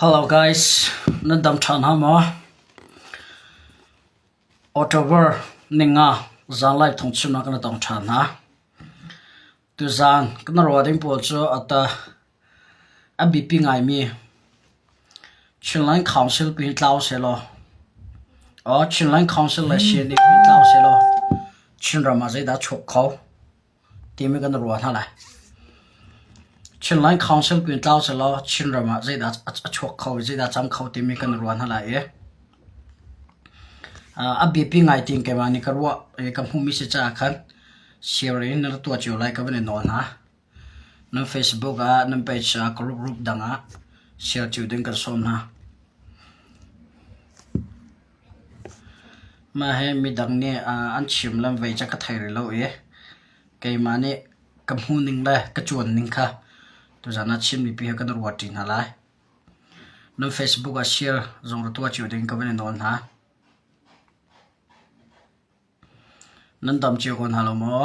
Hello guys, nan dam ṭha hna maw? October ninga zanlai thong chunah kan i tong ṭhan hna. Tuzaan kan ruah ding pawl cu ata a bipi ngaimi Chinland Council ku hi tlau se law aw Chinland Council le Shin i ku hi tlau se law Chinram ah zeidah a chuk kho? timi kan ruah hna lai. Chinland Council ku in tlau selaw Chinram ah zeidah a chuak kho, zeidah cam kho timi kan ruah hna lai i a biapi ngai ting keimah nih ka ruah i ka hmuhmi si caah khan share in na tuah cio lai ka van i nawl hna. Nan Facebook ah, nan page ah, group group dang ah share cio ding kan sawm hna. Mah hi midang nih an chim le vei cu ka thei rih lo i keimah nih ka hmuh ning le ka ṭuan ning kha tuzaan ah chimmi pi hi kan ruat ṭi hna lai. Nan Facebook ah share zong ra tuah cio ding ka van i nawl hna. Nan dam cio ko hna lo maw?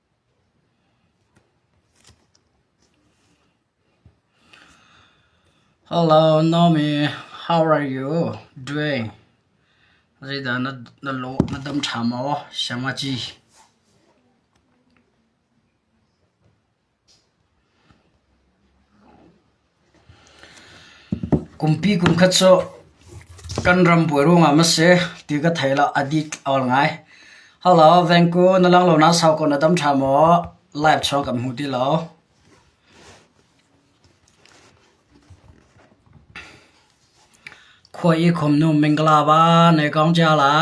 Hello Naomi, how are you doing? Zeidah na, na lawh na dam ṭha maw Siamaci? Kumpi kumkhat cu kan ram buai ruangah maw si ti ka thei lo a dik or ngai. Halo Vengku na lang lo naa sau ko na tam ṭha maw? Live chawng kan hmu ti lo. Khua i khomnu mingkala va nei kong cia la.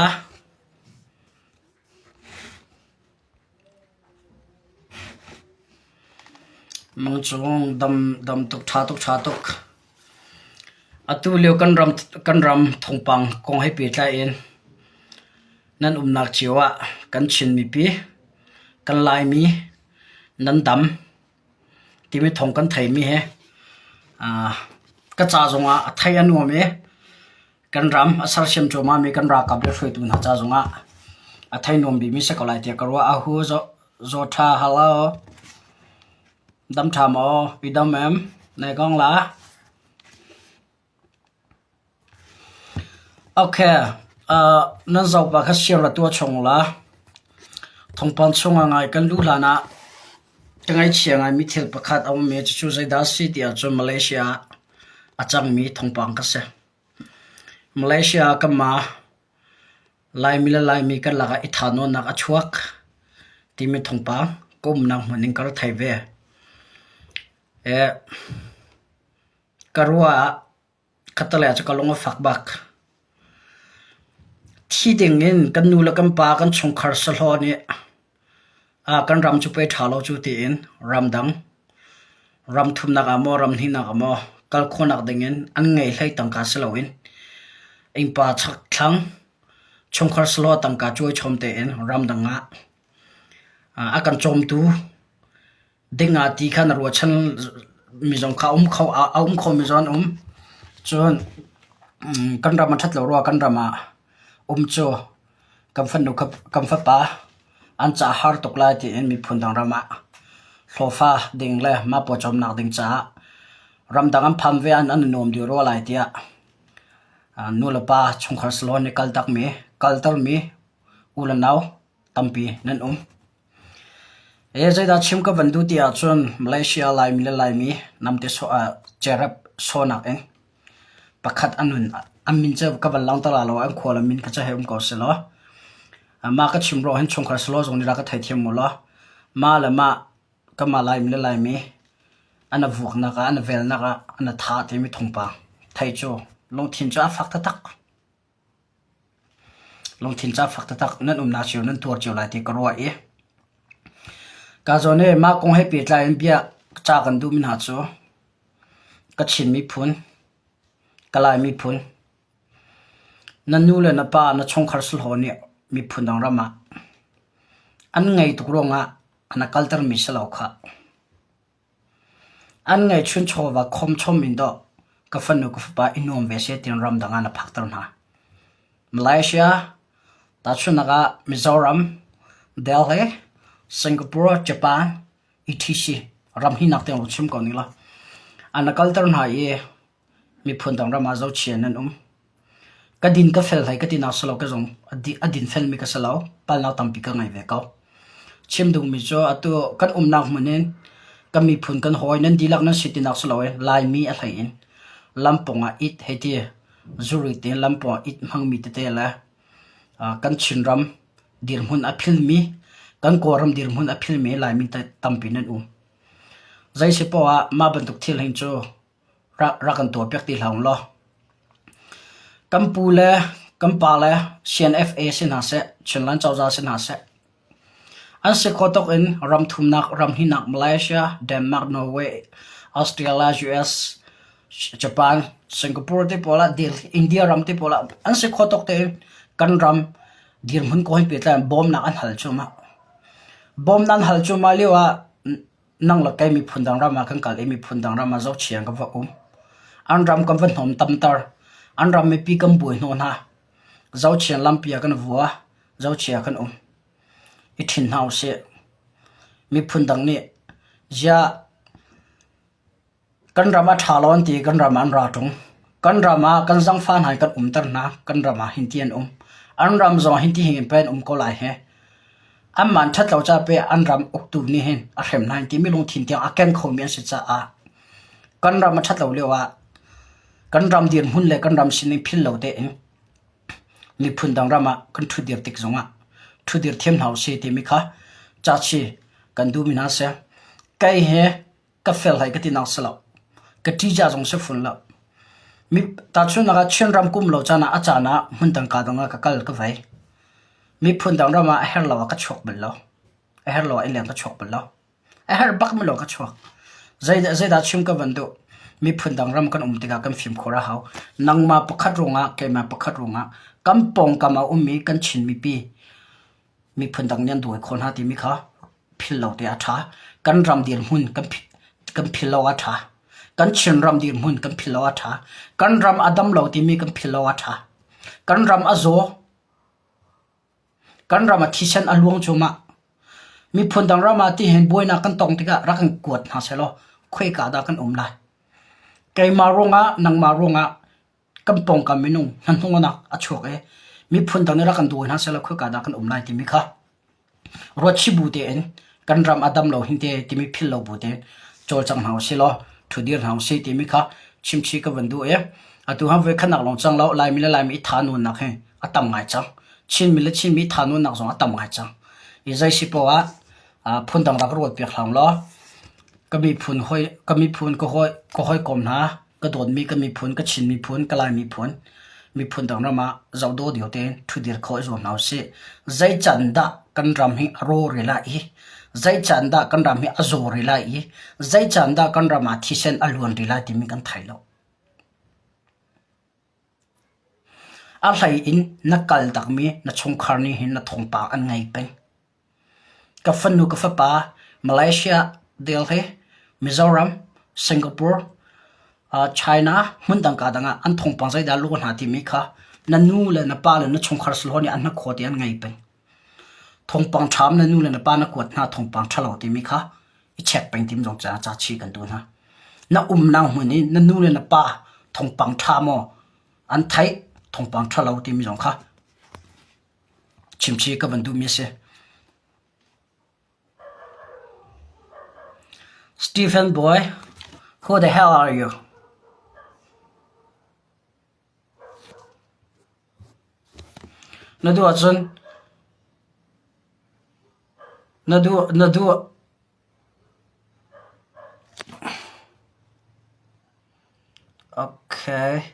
Mung cu dam tuk ṭha tuk ṭha tuk. Atu lio kan ram thawngpang kong he pehtlai in nan umnak cio ah kan Chin mipi, kan Laimi nan dam. Kimiṭhong kan theimi hi ka ca zongah a thei a nuam i kan ram a sersiam cuahmahmi kan ralkap le hruaitu hna ca zongah a thei nuam bikmi si ko lai tiah ka ruah. Ahu zaw ṭha halo dam ṭha maw i dam em? Nai gong la. Okay, aa nan zopa kha siarah tuah chung ula. Thawngpang chungah ngai kan luh hlanah ka ngaichia ngaimi thil pakhat a um i cucu zeidah a si ti ahcun Malaysia ah a cangmi thawngpang kha si. Malaysia ah kan ma Laimi le Laimi karlak ah i thanuamnak a chuak timi thawngpang ka umnak hmun in ka ra thei ve. Ee. Ka ruah ah Catalia cu ka lung a fak bak. Thi dingin kan nu le kan pa, kan chungkhar sahlaw nih kan ram cu pei ṭha lo cu tiin ramdang, ramthumnak ah maw, ramhnihnak ah maw kal khawhnak dingin an ngei hlei tangka si loin innpa chakthlang, chungkhar sahlaw tangka cuai chawm tein ramdang ah a kan cawmtu ding ah ti kha na ruahchan mi zong kha a um kho a um khomi zong an um. Cun mm, kan ram a ṭhat lo rua kan ram ah um cu kan fanu kha kan fapa an ca a har tuk lai tiin miphun dang ram ah hlawfa ding le mapaw cawmnak ding caah ramdang an pham ve an an i nuam dih rua lai tiah ah nu le pa chungkhar salon nih kaltak mi kalter mi u le nau tampi nan um. Ee zeidah chim ka van duh ti ahcun Malaysia Laimi le Laimi namte sawh ah cerep sawnak in pakhat an hun an min cu ka van langter la lo an khual an min kha cu hei um ko selaw. Ma ka chim ro hin chungkhar selaw zong nih ra ka thei thiam mu law. Ma le ma kanmah Laimi le Laimi ana vuaknak ah ana velnak ah ana tha timi thungpang. Thei cu lungthin cu a fak taktak. Lungthin ca fak taktak nan umnak cio nan tuar cio lai ti ka ruah i ka zawn i mah kong he pehtlai in bia ca kan duhmi hna cu ka Chin miphun, ka Lai miphun, na nu le na pa, na chungkhar sahlaw nih miphun dang ram ah an ngei tuk ruangah na kaltermi si lo khah. An ngeihchun chawva khawmchom in dawh ka fanu ka fapa i nuam ve seh tiin ramdang ah na phakter hna. Malaysia, tahchunhnak ah Mizoram, Delhi, Singapore, Japan, etc. ram hnih nak tiang run chim ko ning law, an na kalter hna i miphun dang ram ah zochian an um. Ka din ka fel hlei ka tinak si lo ka zong a din felmi ka si lo. Palhnak tampi ka ngei ve ko. Chim duhmi cu atu kan umnak hmun in kan miphun kan hawi nan dihlak nan si tinak si lo i Laimi a hlei in lampung ah it hei ti zuri te lampung ah it hmangmi tete le kan Chinram dirhmun a philmi kan Kawlram dirhmun a philmi Laimi tampi nan um. Zei si poah mah bantuk thil hin cu rak kan tuah piak ti hlah ung law kan pu le kan pa le CNFA si hna seh Chinland cozah si hna seh an si kho tuk in ram thumnak ram hihnak Malaysia Denmark Norway Australia US Japan Singapore ti pawl ah India ram ti pawl ah an si kho tuk tiin kan ram dirhmun ko hin pehtlai in bawmnak an hal cu mah bawmnak an hal cu mah lio ah nang le kei miphun dang ram ah kan kal i miphun dang ram ah zohchiang kan va um. An ram kan va hnawm tamter. An ram mipi kan buai hnawh hna. Zochiang lampi ah kan vua. Zochiang kan um. I thin hna usih. Miphun dang nih, ziah Kan ram a ṭha lawn ti kan ram ah an ra ṭung. Kan ram ah kan zangfa hna hi kan umter hna. Kan ram ah hinti an um. An ram zong hinti hin pe an um ko lai hih. Anmah an ṭhat lo caah pei an ram uktu nih hin a hrem hna hin ti mi lungthin tiang a ken kho mi an si caah kan ram a ṭhat lo lio ah kan ram dirhmun le kan ram sining phil lo tein miphun dang ram ah kan ṭhut dir tik zong ah ṭhut dir thiam hna usih ti mi kha caci kan duh mi hna a si. Kei hi ka fel hai ka ti nak si lo. Ka ṭica zong si fun lo. Mi tahchunhnak ah Chin ram kum lo caan ah a caan ah hmun dangka dong ah ka kal ka vai. Miphun dang ram ah a her lo ah ka chuak bal lo. A her lo ah ileng ka chuak bal lo. A her bak mi lo ka chuak. Zei zei dah chim ka van du. Miphun dang ram kan um tikah kan fim khora hau. Nangma pakhat rungah keima pakhat rungah kan pong kama um mi kan chin mi pi miphun dang nih an dawi khawh hna timi kha phil lo te a ṭha. Kan ram dirhmun kan phil lo a ṭha. Kan Chin ram dirhmun kan phil lo a ṭha. Kan ram a dam lo timi kan phil lo a ṭha. Kan ram a zaw, kan ram a thisen a luang cu mah. Miphun dang ram ah ti hin buainak kan tong tikah rak in kuat hna selaw, khuika dah kan um lai. Keimah ruangah, nangmah ruangah kan pawngkam minung hnahnungnak a chuak i miphun dang nih rak kan duh hoi hna sehla khoika dah kan um lai timi kha ruatchi bu tein kan ram a dam lo hinte timi phil lo bu tein cawlcang hna usih law thudir hna usih timi kha chimchi ka vun duh i atu ha voi khatnak lawng cang lo Laimi le Laimi i tha nunnak hi a tam ngai cang Chinmi le Chinmi tha nunnak zong a tam ngai cang i zaisi poah ah phun dang rak ruat piak hram law ka miphun hoi ka miphun ka hoi ka hoi kom hna ka dawtmi kan miphun, ka Chin miphun, ka Lai miphun, miphun dang ram ah zoh dawh lio tein ṭhudir khawh i zuam hna usih. Zeican dah kan ram hi a rawre lai i, zeican dah kan ram hi a zawre lai i, zeican dah kan ram ah thisen a luan rih lai timi kan thai lo. A hlei in na kal takmi na chungkhar nih hin na thawngpang an ngei peng. Ka fanu ka fapa Malaysia Delhi, Mizoram, Singapore, China hmundang kaa dang ah an thawngpang zeidah a luh hna timi kha na nu le na pa le na chungkhar slaw nih an hnakhaw te an ngei peng. Thawngpang ṭham na nu le na pa na kuat hna thawngpang ṭhalo timi kha i check peng tim zong caah ca chih kan duh hna. Na umnak hmun i na nu le na pa thawngpang ṭha maw an theih thawngpang ṭhalo timi zong kha. Chimchih ka van duhmi a si. Stephen bawi, who the hell are you? Na duh ahcun na duh na duh Okay.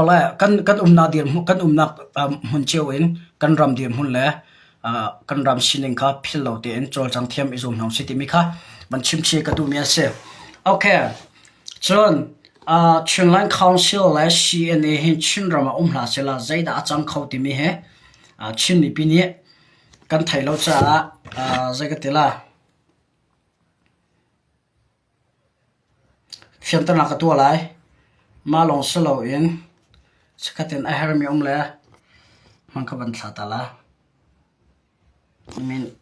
Ole kan umnak dirhmun kan umnak hmun cio in kan ram dirhmun le kan ram sining kha philh lo tein cawlcang thiam i zuam hna usih timi kha van chimchih ka duhmi a si. Okay, cun Chinland Council le CNA hi Chinram ah um hlah sehla zeidah a cang kho timi hi Chin mipi nih kan theih lo caah zei ka ti la. Fimternak a tuah lai. Mah lawng si loin sakhat in a herhmi a um le hman kha van thlah ta la.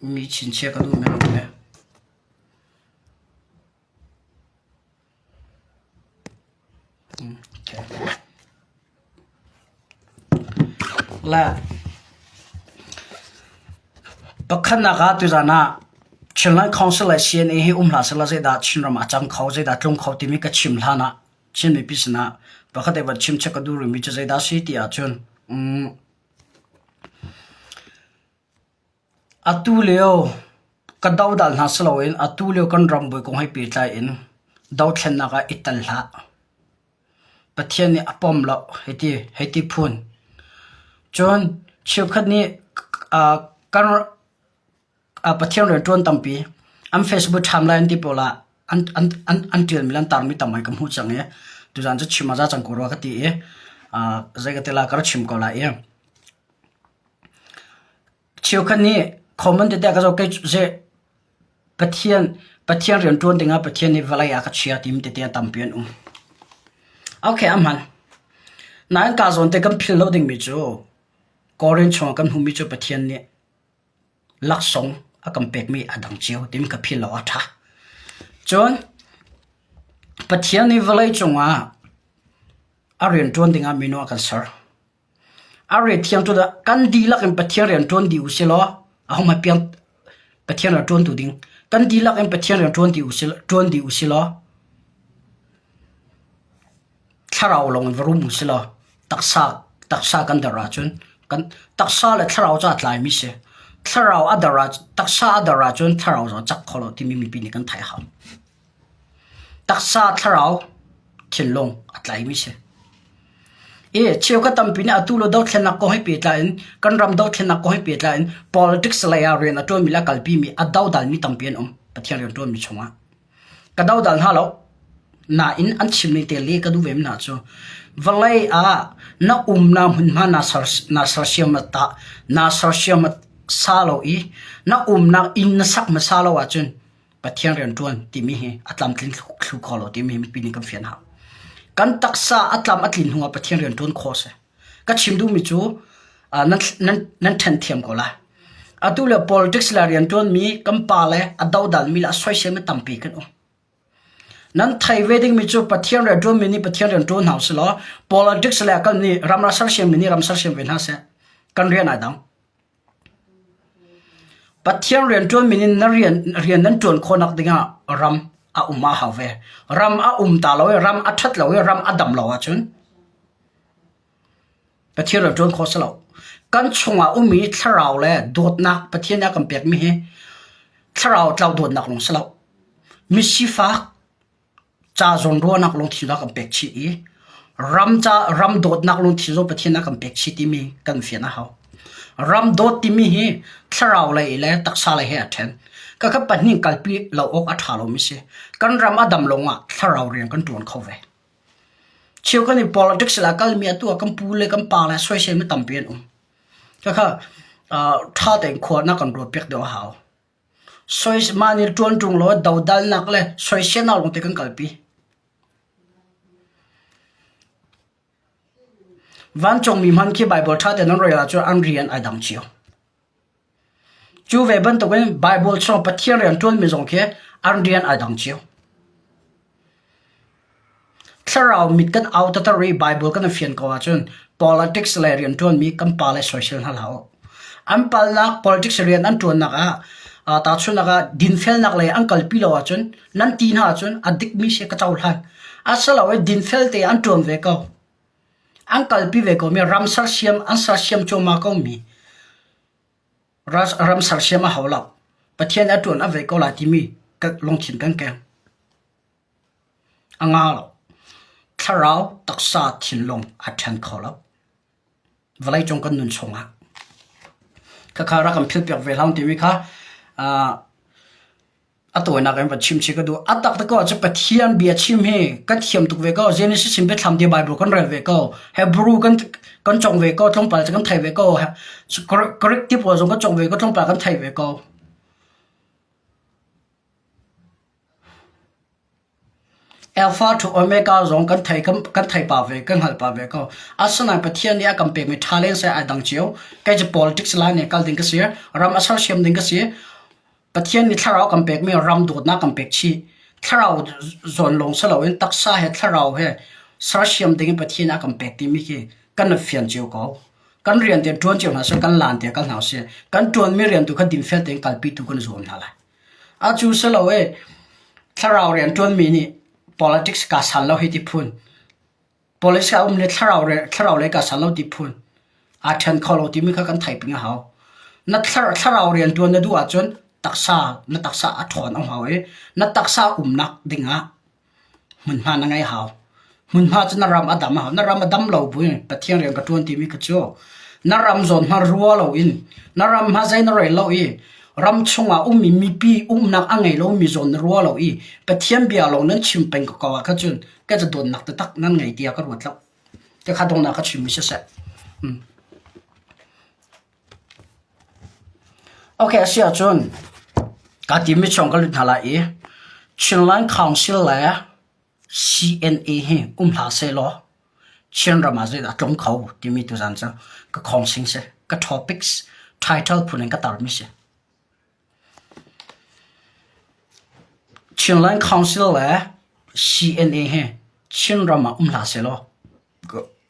Mi chinchia ka duhmi a um ve. Okay. Pakhatnak ah tuzan ah Chinland Council le CNA hi um hlah sehla zeidah Chinram a cang kho, zeidah tlung kho timi ka chim hlan ah Chin mipi sinah pakhat i va chim check ka duh rihmi cu zeidah a si ti ahcun um, Atulio kan dodal hna siloin atulio kan ram bawi kong he pehtlai in dothlennak ah i tel hlah. Pathian nih a pom loh hiti, hiti phun. Cun cheukhat nih kan Pathian rianṭuan tampi an Facebook timeline an ti pawl ah an ṭialmi le an tarmi tam he kan hmuh cang i tuzaan cu chim a za cang ko rua ka ti i zei ka ti lai ka rak chim ko lai i. Cheukhat nih common tete ah ka zoh kei cu seh Pathian, Pathian rianṭuan dingah Pathian nih vawlei a ka chia timi tete a tampi an um. Okay a hman. Nain kaa zawn te kan philh lo dingmi cu Korin chungah kan hmuhmi cu Pathian nih laksawng a kan pekmi a dang cio timi ka philh awk a ṭha. Cun Pathian nih vawlei cungah a rianṭuan dingah minu a kan ser. A ret thiang ṭut ah kan dihlak in Pathian rian ṭuan dih usih law ahohmanh piang Pathian ral ṭuantu ding kan dihlak in Pathian rian ṭuan dih usih ṭuan dih usih law thlarau lawng in va rum usih law taksa taksa kan der ahcun kan taksa le thlarau cu aa tlaimi si. Thlarau a der ah taksa a der ahcun thlarau cu a cak kho lo timi mipi nih kan theih a hau. Taksa thlarau thinlung a tlaimi si. I cheukhat tampi nih atu le dothlennak kong he pehtlai in kan ram dothlennak kong he pehtlai in politics lei ah rian a ṭuanmi le a kalpimi a dodalmi tampi an um Pathian rian ṭuanmi chungah. Ka dodal hna lo. Nain an chim ning te le ka duh vemi hna cu vawlei ah na umnak hmunhma naa ser naa sersiam ah tah naa sersiam sa lo i na umnak inn na sak hmasa lo ahcun Pathian rian ṭuan timi hi a tlamtlin thlu kho lo timi mipi nih kan fian hna. Kan taksa a tlam a tlin hnuah Pathian rian ṭuan khawh a si. Ka chim duhmi cu uh, nan, nan, nan ṭhen thiam ko la. Atu le politics le rian ṭuanmi kan pa le a dodalmi le a soiselmi tampi kan um. nan thai ve ding mi cu pathian re ṭuan mi nih pathian rian ṭuan hau si law politics le kan nih ram ra ser siam mi nih ram ser siam ve hna se kan rian ai dang Pathian rianṭuanmi nih na rian nan ṭuan khawhnak dingah ram a um a hau ve. Ram a um ta lo i ram a ṭhat lo i ram a dam lo ahcun Pathian rian ṭuan khawh a si lo. Kan chungah ummi thlarau le dawtnak Pathian nih a kan pekmi hi thlarau tlau dawtnak lawng a si lo. Misifak, ca zawnruahnak lungthin zong a kan pek chih i ram ca ram dawtnak lungthin zong Pathian a kan pek chih timi kan fian a hau. Ram dawt timi hi thlarau lei le taksa lei he a ṭhen. Ka kha pahnih kalpi lo awk a ṭha lomi si. Kan ram a dam lawng ah thlarau rian kan ṭuan kho ve. Cheu kan i politics la kalmi atu ah kan pu le kan pa le soisel mi tampi an um. Ka kha ṭha tein khuanak kan ruat piak deuh a hau. Mah nih ṭuan ṭung law dodalnak le soiselnak lawngte kan kalpi. Vancungmi hmanh khi Baibal ṭha tein an rel ahcun an rian ai dang cio. Cu ve bantukin Baibal chung Pathian rian ṭuanmi zong khi an rian ai dang cio. Thlarau mit kan au tater i Baibal kan i fian ko ahcun politics le rianṭuanmi kan pa le soisel hna hlah u. An palnak politics i rian an ṭuannak ah aa tahchunhnak ah dinfelnak lei an kalpi lo ahcun nan ti hna ahcun a dikmi si ka cohlan. Asilo i dinfel te an ṭuan ve ko. An kalpi ve komi ram sersiam an sersiam cuahmah komi ram sersiam a hau lo. Pathian a ṭuan a vei ko lai timi lungthin kan keng. A nga lo. Thlarau, taksa, thinlung a ṭhen kho lo. Vawlei cung kan nun chungah. Khakha rak kan philpiak ve hlang timi kha a tawinak in va chim chi ka duh a tak ko cu Pathian bia chim hi kan thiam tuk ve ko Genesis in bethlam dia Bible kan rel ve ko Hebrew kan kan chong ve ko tlongpal kan thai ve ko Greek ti po zong kan chong ve ko tlongpal kan thai ve ko Elfa ṭhu Omega zong kan theih pah ve, kan hngalh pah ve ko. Asinain Pathian nih a kan pekmi ṭha leng seh ai dang cio. Kei cu politics lai nih kal ding ka si. Ram a sersiam ding ka si. Pathian nih thlarau kan pekmi ram dawtnak kan pek chih. Thlarau zawn lawng si loin taksa he thlarau he sersiam ding in Pathian nih a kan pek timi khi kan rak fian cio ko. Kan rian tiang ṭuan cio hna seh, kan laan tiang kal hna seh. Kan ṭuanmi rian tu kha dim fel tein kalpi tu kan zuam hna lai. A cu si lo i thlarau rian ṭuanmi nih politics kaa sal lo hei ti phun. Politics a um le thlarau re- thlarau lei kaa sal lo ti phun. Aa ṭhen kho lo timi kha kan theih ping a hau. Na thlar- thlarau rianṭuan na duh ahcun taksa, na taksa a ṭhawn a hau i na taksa umnak dingah Hmunhma na ngei hau. Hmunhma cu na ram a dam a hau. Na ram a dam lo bu in Pathian rian ka ṭuan timi kha cu na ram zawn hmanh rua lo in na ram hmanh zei na rel lo i ram chungah ummi mipi umnak a ngei lomi zawn na rua lo i Pathian bia lawng nan chim peng ko kau ahkhan cun ka caduannak taktak nan ngei tiah ka ruat lo. Te kha donghnak kha chim mi siseh. Okay, a si ahcun ka timi chung ka lut hna lai i Chinland Council le CNA hi um hlah sehlaw Chin ram ah zei dah a tlung kho timi tu zan cu ka khawngsing si ka topics title phun in ka tarmi si Chinland Council le CNA hi Chin ram ah um hlah sehlaw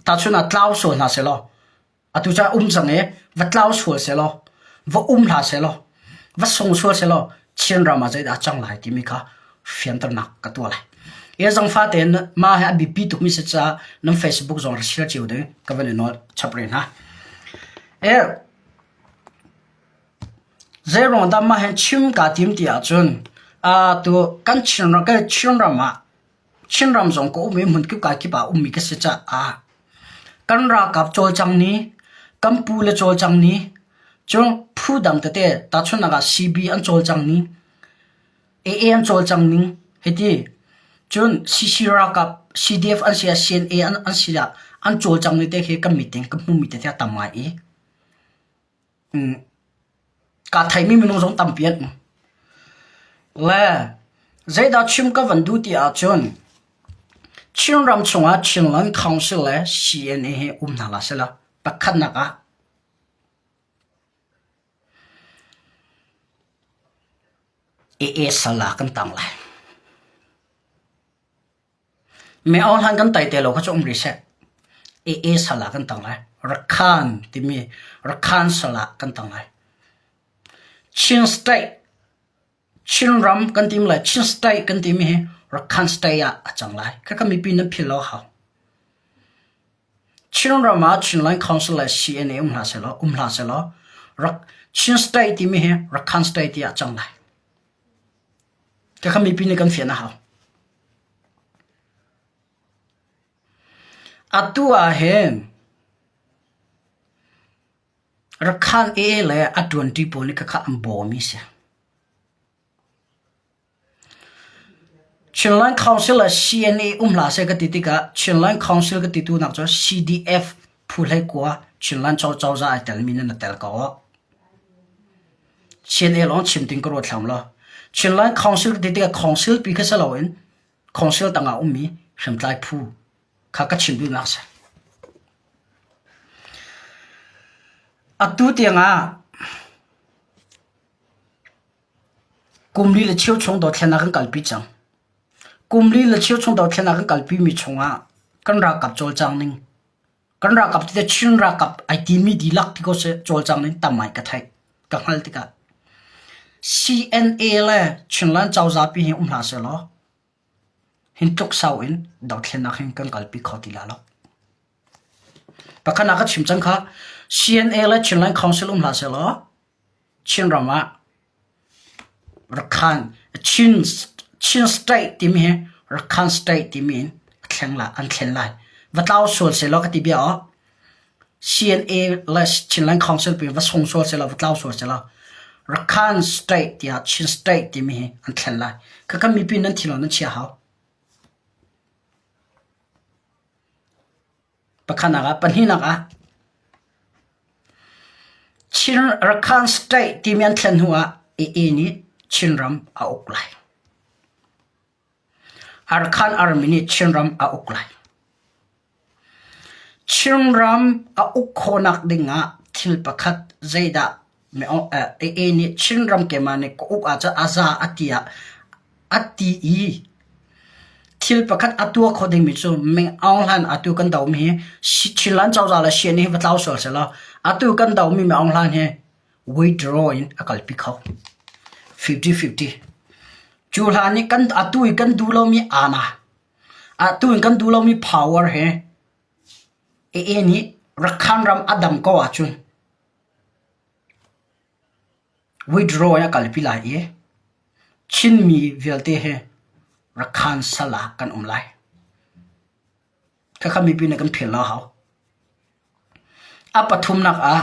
tahchun ah tlau so hna sehlaw Atu ca um cang i va tlau sual sehlaw, va um hlah sehlaw, va sung sual sehlaw, Chin ram ah zeidah a cang lai timi kha fianternak ka tuah lai. Ia zang fa tein ma he a bipi tukmi se ca nan Facebook zong rashir ciu ding ka van i nawl chap re hna. E zei rong da ma he chim ka tim ti ahcun a tu kan Chin ram kan Chin ram ah Chinram zong ka um i hmunkip kai kip ah a ummi ka si caah kan ralkap cawlcang ni, kan pu le cawlcang ni, cun phu dang tete tahchunhnak ah CB an cawlcang ni, AA an cawlcang ning hiti. Cun CC ralkap CDF an si ah CNA an si ah an cawlcang ni te khi kan meeting kan hmuhmi te te a tam ngai i. kaa theimi minung zong tampi an um. Le zeidah chim ka van duh ti ahcun Chinram chungah Chinland Council le CNA hi um hna la sila pakhatnak ah AA sala kan tang lai. Meohlan kan tai te lo kha cu um rih seh. AA sal ah kan tang lai. Rakhan timi Rakhan sal ah kan tang lai. Chin State, Chinram kan timi le Chin State kan timi hi Rakhan State ah a cang lai. Kha ka mipi nan phil lo hau. Chinram ah Chinland Council le CNA um hla selaw, um hla selaw, Rak, Chin State timi hi Rakhan State ti ah a cang lai. Ka kha mipi nih kan fian a hau. Atu ahhin Rakhine AA le a ṭuanṭi pawl nih khakha an bawmi a si. Chinland Council ah CNA um hlah seh ka ti tikah Chinland Council ka titu nak cu CDF phu hlei kua Chinland Cho Cozah ai telmi nan tel ko. Chin el awng chim ding ka ruat hram lo. Chinland Council ka ti tikah council pi kha si loin council tangah ummi hriamtlai phu kha ka chim duhnak a si. Atu tiangah kumli le cheu chung dothlenak kan kalpi cang. Kumli le cheu chung dothlenak kan kalpimi chungah kan rak kap cawlcang ning Kan ralkap cu Chin ralkap ai timi dihlak ti ko seh cawlcang in tam ai ka theih. Ka hngalh tikah CNA le Chinland cozah pi hi um hlah sehlaw hin tluk sau in dothlennak hin kan kalpi kho ti la lo. Pakhat ah ka chim cang kha CNA le Chinland Council um hlah sehlaw Chinram ah Chin state timi hi Rakhine state timi in an thleng lai. Va tlau sual sehlaw ka ti bia aw. CNA le Chinland Council pi va sung sual sehlaw, va tlau sual sehlaw, Rakhine state tiah Chin state timi hi an thleng lai. Khakha mipi nan thi lo nan chia hau. Pakhatnak ah pahnihnak ah Chin Rakhine State timi an thlen hnu ah Aa nih Chinram a uk lai. Arakan armi nih Chinram a uk lai. Chinram a uk khawhnak ding ah thil pakhat zeidah Aa nih Chinram keimah nih ka uk ahcun a za a ti ah a ti i thil pakhat a tuah kho dingmi cu meng aung hlan atu kan domi hi Chinland cozah le Sien hi va tlau sual sehlaw atu kan domi mi aung hlan hi withdraw in a kalpi kho fifty fifty. Cu hlan i kan atu i kan duh lomi aana atu in kan duh lomi power he Aa nih Rakhan ram a dam ko ahcun Withdraw in a kalpi lai i Chinmi vialte he rakhan sal ah kan um lai. Khakha mipi nih kan philh lo a hau. A pathumnak ah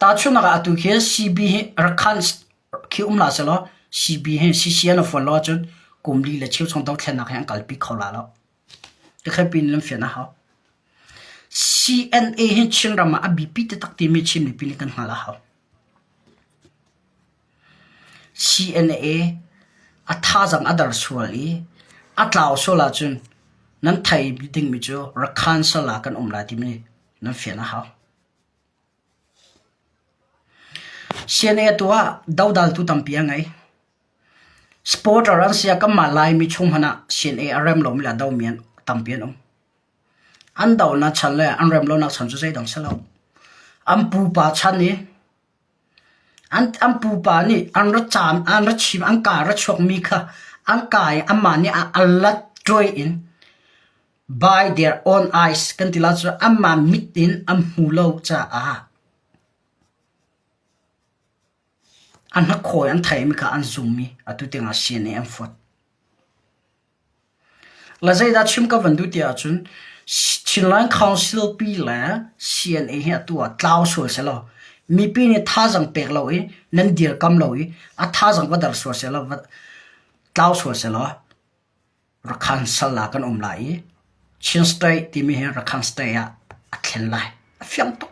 Tahchunhnak ah atu khi CB hi rak khan khi um hlah selaw CB hi CCN a fual lo ahcun kum li le cheu chung dothlennak hi an kalpi kho la lo. Tikhat piin nan fian a hau. CNA hi Chinram ah a biapi taktak timi Chin mipi nih kan hngalh a hau. CNA a thazaang a der sual i a tlau sual ahcun nan thei dingmi cu Rakhan sal ah kan um lai timi nan fian a hau. CNA atu ah dodaltu tampi a ngei. Supporter an si ah kanmah Laimi chung hmanh ah CNA a rem lomi le a domi an tampi an um. An donak chan le an rem lonak chan cu zeidang si lo. An pupa chan i An pupa nih an ra chim an ka ra chuakmi kha an ka i anmah nih a lat ṭuai in by their own eyes kan ti lo cun anmah mit in an hmu lo caah a hnakhawi an theimi kha an zummi atu tiang ah siane an fuat. La zeidah chim ka van duh ti ahcun Chinland Council pi le CNA hi atu ah tlau sual sehlaw mipi nih thazaang pek lo i nan dirkamh lo i a thazaang va dar sual sehlaw va tlau sual sehlaw Rakhine sal ah kan um lai i Chin State timi hi Rakhine State ah a thlen lai. A fiang tuk.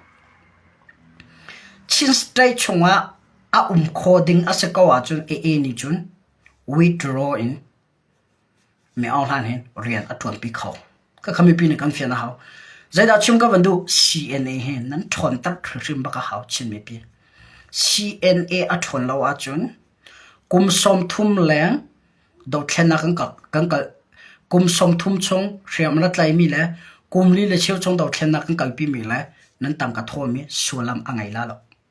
Chin State chung ah a um kho ding a si ko ahcun AA nih cun withdraw in Miohlan hi rian a ṭuanpi kho. Khakha mipi nih kan fian a hau. Zeidah chim ka van duh? CNA hi nan ṭhawnter hrimhrim bak a hau Chin mipi. CNA a ṭhawn lo ahcun kum sawmthum leng dothlennak kan kalh. Kan kalh. Kum sawmthum chung hriam na tlaimi le kum li le cheu chung dothlennak kan kalpimi le nan tangka thawhmi sullam a ngei la lo.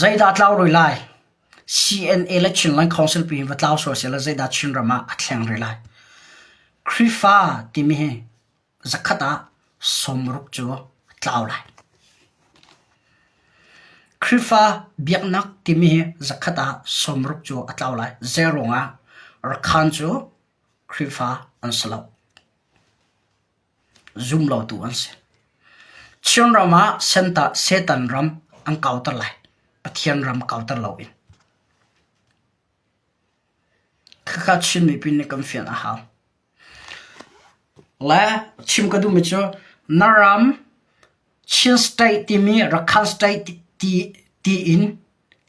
Zeidah a tlau rih lai? CNA le Chinland Council pi hi va tlau sual sehla zeidah Chinram ah a thleng rih lai? Khrihfa timi hi zakhat ah sawmruk cu a tlau lai. Khrihfa biaknak timi hi zakhat ah sawmruk cu a tlau lai. Zeiruangah? Rakhan cu Khrihfa an si lo. zumlotu an si. Chinram ah Satan ram an kauter lai. Pathian ram kauter loin. Khakha Chin mipi nih kan fian a hau. Le chim ka duhmi cu Naram Chin state timi Rakhine state tiin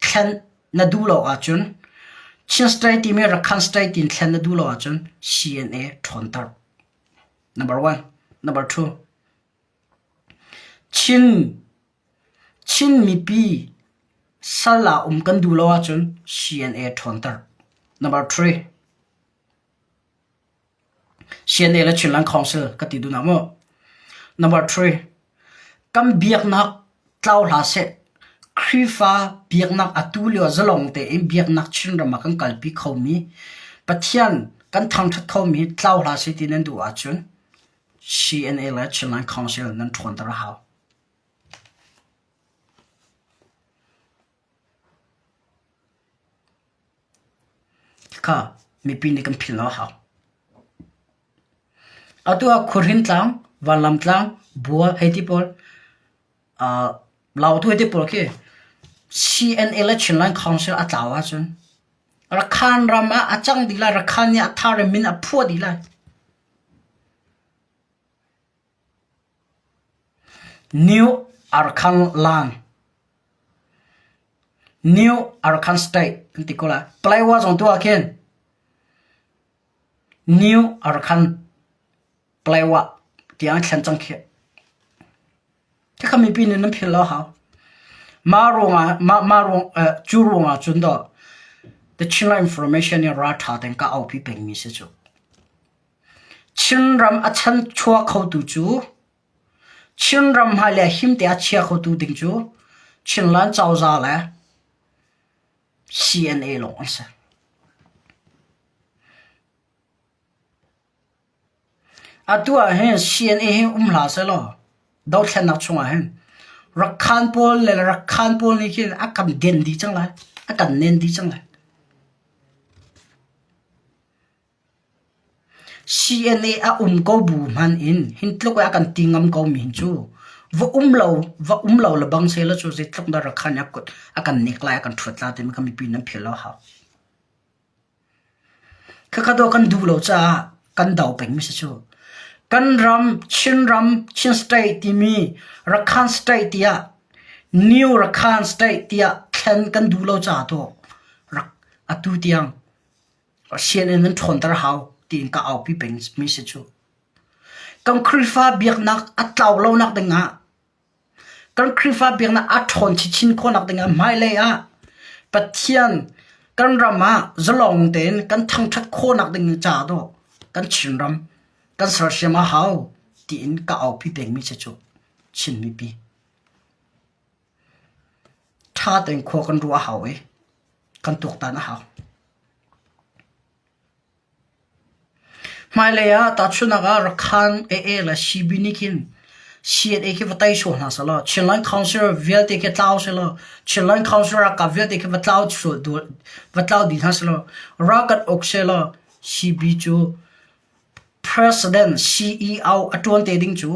thlen na duh lo ahcun Chin state timi Rakhine state tiin thlen na duh lo ahcun CNA ṭhawnter. Chin mipi sal ah um kan duh lo ahcun CNA ṭhawnter. CNA le Chinland Council ka ti duh na maw? Kan biaknak tlau hlah seh, Khrihfa biaknak atu lio ah zalong tein biaknak Chinram ah kan kalpi khomi, Pathian kan thangṭhat khomi tlau hlah seh ti nan duh ahcun CNA le Chinland Council nan ṭhawnter a hau. Tikha mipi nih kan philh a hau. Atu ah khuahrin tlang, vanlam tlang, bua hei ti pawl, aa lau atu hei ti pawl khi CNA le Chinland Council a tlau ahcun Rakhan ram ah a cang dih lai, Rakhan nih a thar in min a phuah dih lai. New Arakan State an ti ko lai. Palawa zong tu ahkhin New Arakan Palawa tiang an thlen cang khi. Khi kha mipi nih nan philh lo hau. Mah ruang ah, mah, mah ruang, uh, cu ruang ah cun do The Chinland Information in raltha ten ka aupi pengmi si cu. Chinram a chanchuah khotu cu Chinram hmai le him te a chia khotu ding cu Chinland cozah le CNA lawng an si. Atu ahhin CNA hi um hlah sehlaw dothlennak chungah hin Rakhaan pawl le Rakhaan pawl nih khin a kan den dih cang lai, a kan nen dih cang lai. CNA a um ko bu hmanh in hin tluk ah a kan ti ngam ko mi cu va um lo va um lo le bang sela cu zeitluk dah rakhan a kan nek lai a kan ṭhuat la timi kha mipi nan philh a hau. Khakha dawh kan duh lo caah kan dau peng mi si cu. Kan ram Chin ram Chin state timi Rakhan state tiah New Rakhan state tiah thlen kan duh lo caah to atu tiang Sianginn an ṭhawnter hau tiin ka aupi pengmi si cu. Kan Khrihfa biaknak a tlau lonak dingah, kan Khrihfa biaknak aa ṭhawn chinchin khawhnak dingah hmailei ah Pathian kan ram ah zalawng tein kan thangṭhat khawhnak ding ca dawh kan Chinram kan sersiam a hau tiin ka aupi pengmi si cu Chin mipi. Ṭha tein khua kan ruah a hau i kan tuaktan a hau. Hmailei ah tahchunhnak ah Rakhine AA le CB nih khin CNA khi va tei sawh hna selaw Chinland Council vialte khi tlau selaw Chinland Council ralkap vialte khi va tlau sual va tlau dih hna selaw ralkat uk selaw CB cu President CEO a ṭuan te ding cu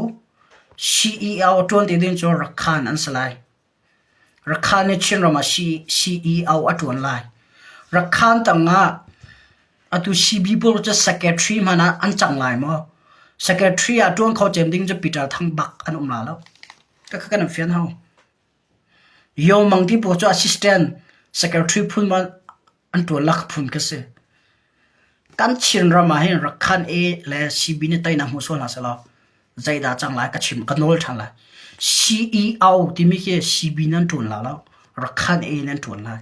CEO ṭuan te ding cu Rakhan an si lai. Rakhan hi Chinram ah CEO a ṭuan lai. Rakhan tangah atu Cbipur cu secretary hmanh ah an cang lai maw? Secretary ah ṭuan kho cem ding cu Peter Thang bak an um la lo. Takha kan in fian hau. Yo Mang ti pawl cu assistant secretary phun maw an tuan lak phun khi a si. Kan Chin ram ah hin Rakhan A le CB nih teinak hmu sual hna selaw zeidah a cang lai ka chim ka nawl ṭhan lai. CEO timi khi CB nih an ṭuan la lo Rakhan A nih an ṭuan lai.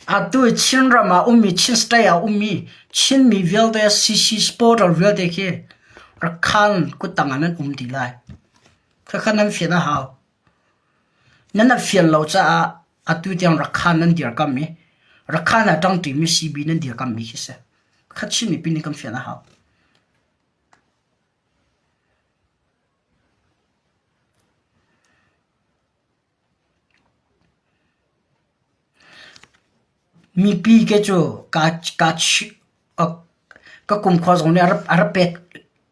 Atu i Chinram ah ummi Chin State ah ummi Chinmi vialte CC Sportal vialte khi Rakhine kuttang ah nan um dih lai. Khakha nan fian a hau. Nan ap fian lo caah atu tiang Rakhine nan dirkamh i Rakhine ah ṭangṭimi CB nan dirkamhmi khi si. Kha Chin mipi nih kan fian a hau. Mipi ke cu ka kumkhua zong nih a rak pet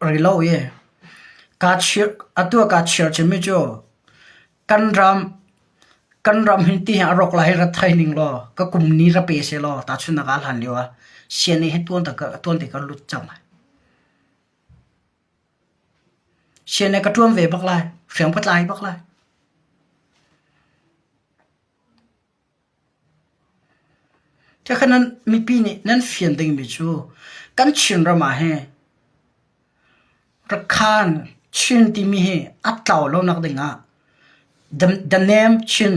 rih lo i atu ah kaa chir chin mi cu kan ram hi ti hi a rawk lai hi rak thei ning law ka kum ni ra pe seh law tahchunhnak ah hlan lio ah sianei hi tuan te ka lut cang. Sian le ka ṭuan ve bak lai, hriang patlai bak lai. Ṭhekhat nan mipi nih nan fian dingmi cu kan Chin ram ah hi Rakhan Chin timi hi a tlau lonak ding ah Danem Chin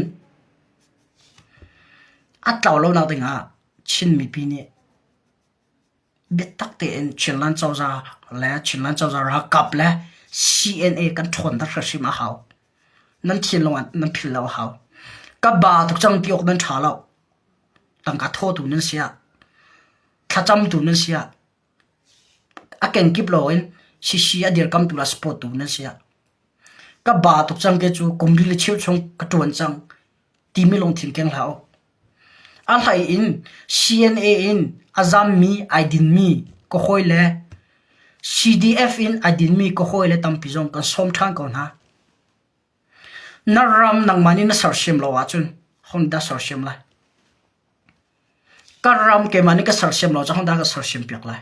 a tlau lonak ding ah Chin mipi nih Biatak tein Chinland cozah le Chinland cozah ralkap le CNA kan ṭhawnter hrim a hau. Nan thinlung ah nan philh lo a hau. Ka ba tuk cang ti awk nan ṭha lo. Tangka thawtu nan si ah, thlacamtu nan si ah, a kenkip loin sisi a dirkamtu le supportu nan si ah. Ka ba tuk cang ke cu kum li le cheu chung ka ṭuan cang timi lungthin keng hlah u. A hleiin CNA in a zammi ai dinmi ka hawi le CDF in ai dinmi ka hawi le tampi zong kan sawm ṭhan ko hna. Na ram nangmah nih na sersiam lo ahcun hondah sersiam lai? Ka ram keimah nih ka sersiam lo cang hondah ka sersiam piak lai?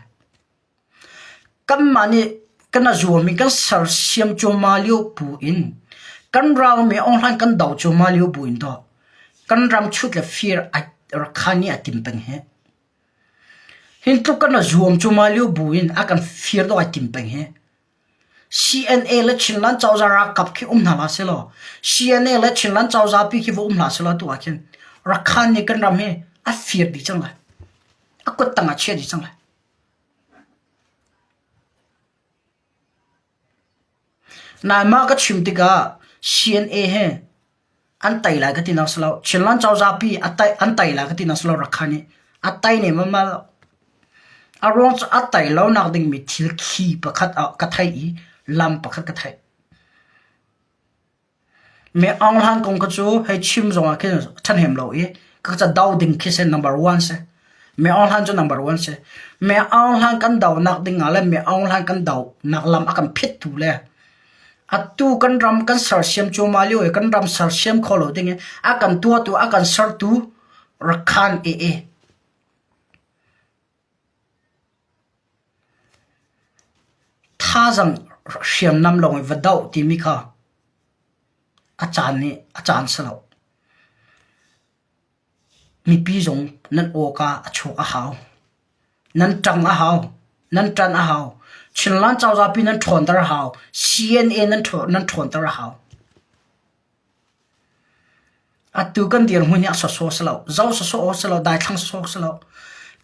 Kanmah nih kan a zulmi kan sersiam cuahmah lio bu in kan ralmi a awnghlan kan do cuahmah lio bu in tawh kan ram chut le fir a rak khan i a tim peng hi. Hi tluk kan a zuam cuahmah lio bu in a kan fir dawh ai tim peng hi. CNA le Chinland cozah ralkap khi um hna hlah selaw, CNA le Chinland cozah pi khi va um hlah selaw atu ah khin Rakhan nih kan ram hi a fir dih cang lai. A kuttang a chia dih cang lai. Naimah ka chim tikah CNA he an tai lai ka ti nak si lo. Chinland cozah pi an tai lai ka ti nak si lo Rakha nih. A tai ne malmal. A ruang cu a tai lo nak ding mi thil khi pakhat ka theih i lam pakhat ka theih. Mee Aung Hlaing kong kha cu hei chim zongah khin ṭhahnem lo i ka cado ding khi seh number one si. Mee Aung Hlaing cu number one si. Mee Aung Hlaing kan donak dingah le Mee Aung Hlaing kan donak lam a kan phit tu le atu kan ram kan sersiam cuahmah lio i kan ram sersiam kho lo ding i a kan tuahtu, a kan sertu Rakhine AA Thazaang hriamnam lawng in va doh timi kha a caan nih a caan si lo. Mipi zong nan awk ah a chuak a hau. Nan ṭang a hau. Nan ṭan a hau. Chinland cozah pi nan ṭhawnter a hau. CNN nan ṭhawnter a hau. Atu kan dirhmun hi a sawsawh si lo, zo sawsawh aw si lo, daithlang sawsawh si lo.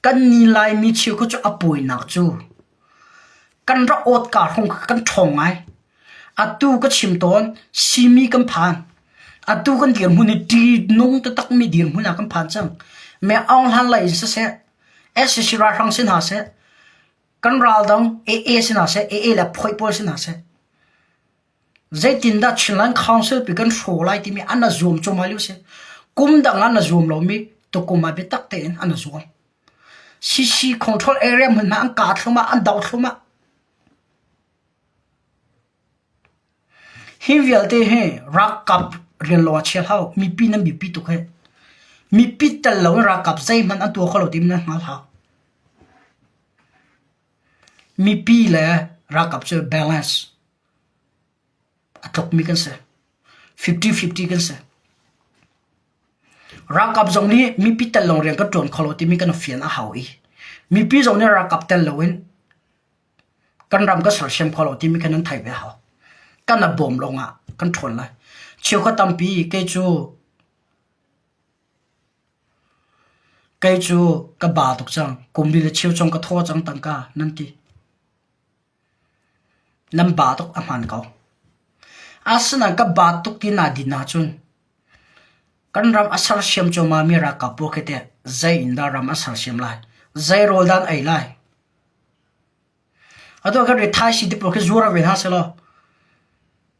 Kan ni Laimi cheu khi cu a pawinak cu kan rak awtka hrung kha kan ṭhawng ngai. Atu ka chim tawn simi kan phan. Atu kan dirhmun hi ṭihnung taktakmi dirhmun ah kan phan cang. Meh Aung Hlan lei in siseh, SCC ralhrang si hna seh, kan ral dang AA si hna seh, AA le Phawih pawl si hna seh. Zeitindah Chinland Council pi kan hraw lai timi an rak zuam cuahmah lio a si. Kum dang ah an rak zuam lomi tukum ah biatak tein an rak zuam. CC control area hmun hna an kah thluahmah, an doh thluahmah. Hi vialte hi ralkap rian lawng a chia hlah. Mipi nan biapi tuk hi. Mipi tel lo in ralkap zeihmanh an tuah kho lo timi nan hngal hlah. Mipi le ralkap cu balance. a tlokmi kan si. Fifty fifty kan si. Ralkap zong nih mipi tel lawng rian kan tuan kho lo timi kan fian a hau i mipi zong nih ralkap tel loin kan ram kan sersiam kho lo timi kan an theih ve a hau. Kan a bawm lawng ah kan ṭhawn lai. Cheukhat tampi kei cu kei cu ka ba tuk cang. Kum li le cheu cong ka thaw cang tangka nan ti. Nan ba tuk a hmaan ko. Asinain ka ba tuk ti naa din ahcun kan ram a sersiam cuahmahmi ralkap pawl khi teh zei in dah ram an sersiam lai? Zei rawl dah an ei lai? Atu ah kan rithaisii ti pawl khi zuar ve hna sehlaw,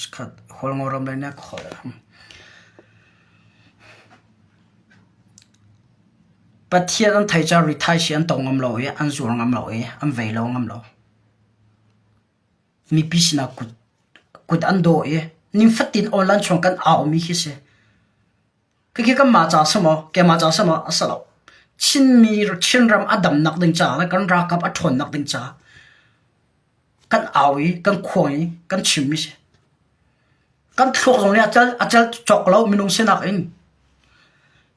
Chikkhat Hualngoram lei ka holh. Pathian an thei cang rithaisi an tong ngam lo i an zuar ngam lo i an vei lo ngam lo. Mipi sinah kut an daw i nifatin online chung kan au mi khi si. Khikhi kanmah ca semaw keimah ca semaw a si lo. Chinmi Chinram a damnak ding caah le kan rakap a ṭhawnnak ding caah kan au i kan khuang i kan chimmi si. Kan thluak zong nih a cal a cal cawk lo minung sinak in.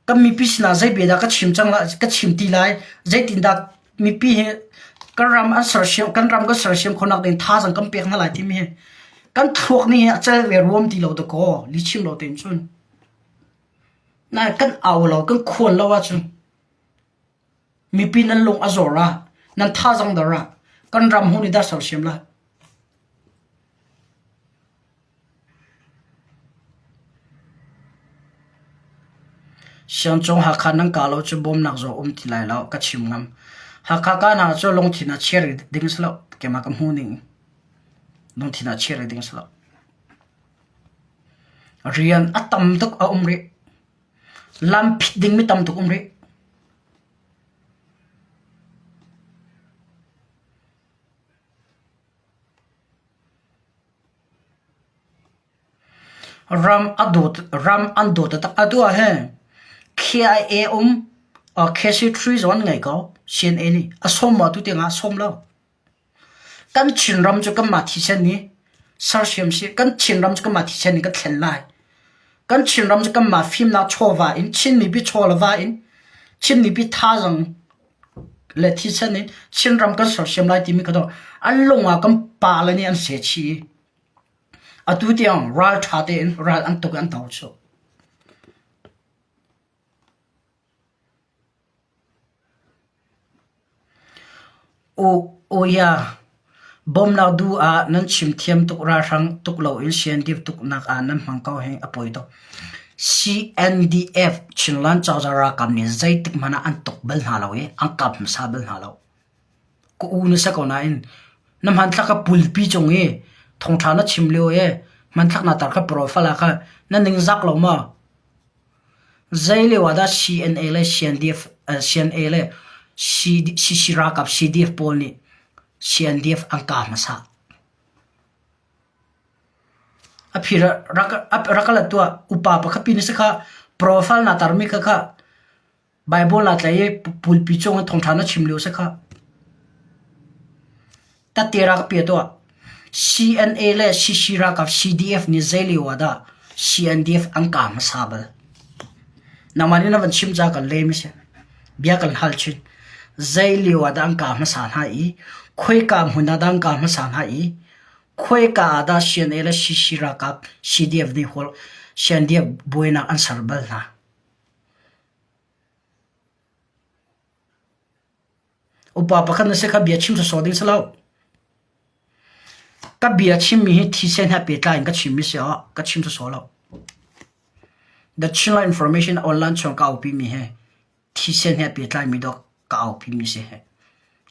Kan mipi sinah zei bia dah ka chim cang lai ka chim ti lai zeitin dah mipi hi kan ram an sersiam kan ram kan sersiam khonak ding thazang kan pek hna lai timi hi kan thluak nih hi a cal ve ruam ti lo dakaw li chim lo tein cun. Nan kan au lo kan khual lo ahcun mipi nan lung a zawr ah, nan thazang dar ah kan ram hun i dar sersiam la. Siangcung Hakha nan ka lo cu bawmnak zaw um ti lai lo ka chim ngam. Hakha ka hna cu lungthin ah chia rih ding si lo, keimah ka hmuh ning. Lungthin ah chia rih ding si lo. Rian a tam tuk a um rih. Lam phit dingmi tam tuk um rih. Ram a dawt, ram an dawt atak. Atu ah hin KIA um KC3 zawn ngai ko CNA nih. A som ma tu tiang ah a som lo. Kan Chinram cu kanmah thisen i sersiam sih. Kan Chinram cu kanmah thisen in kan thlen lai. Kan Chinram cu kanmah fimnak chawva in Chinmi biachawlava in Chinmi bithaazang le thisen in Chinram kan sersiam lai timi kha tuah. An lung ah kan pa le nih an seh chih i atu tiang ralṭha tein ral an tuk i an to chuh. Uk Oya bawmnak duh ah nan chim thiam tuk ralhrang tuk loin siandeep tuknak ah nan hmang ko hi a poi tuk. CNDF Chinland cozah ralkap nih zeitik hmanh ah an tuk bal hna lo i an kap hmasa bal hna lo. Ka u na si ko nain na hmanthlak ka pulpi cung i thawngṭha na chim lio i hmanthlak na tar kha profile ah kha na ningzak lo maw? Zeilio ah dah CNA le CNDF CNA le ralkap CDF pawl nih CNDF an kah hmasa. A phir ah rak ka lat tuah upa pakhat pi na si khah. Profile naa tar mi kha khah. Baibal aa tlai i pulpi cung in thawngṭha na chim lio seh khah. Tate rak ka pia tuah. CNA le CC ralkap CDF nih zeilio ah dah CNDF an kaam hmasa bal? Nangmah nih na van chim ca ka lem si. Bia kan hal chin. Zeilio ah dah an kaam hmasa hna i khoika hmun ah dah an kaam hmasa hna i khoika ah dah CNA le CC ralkap CDF nih hol CNDF buainak an ser bal hna? Upa pakhat na si kha bia chim sawsawh ding si lo. Ka bia chimmi hi thisen he pehtlai in ka chimmi si ah ka chim sawsawh lo. The Chinla Information online chung ka aupi mi he thisen he pehtlai mi dok ka aupi mi si he.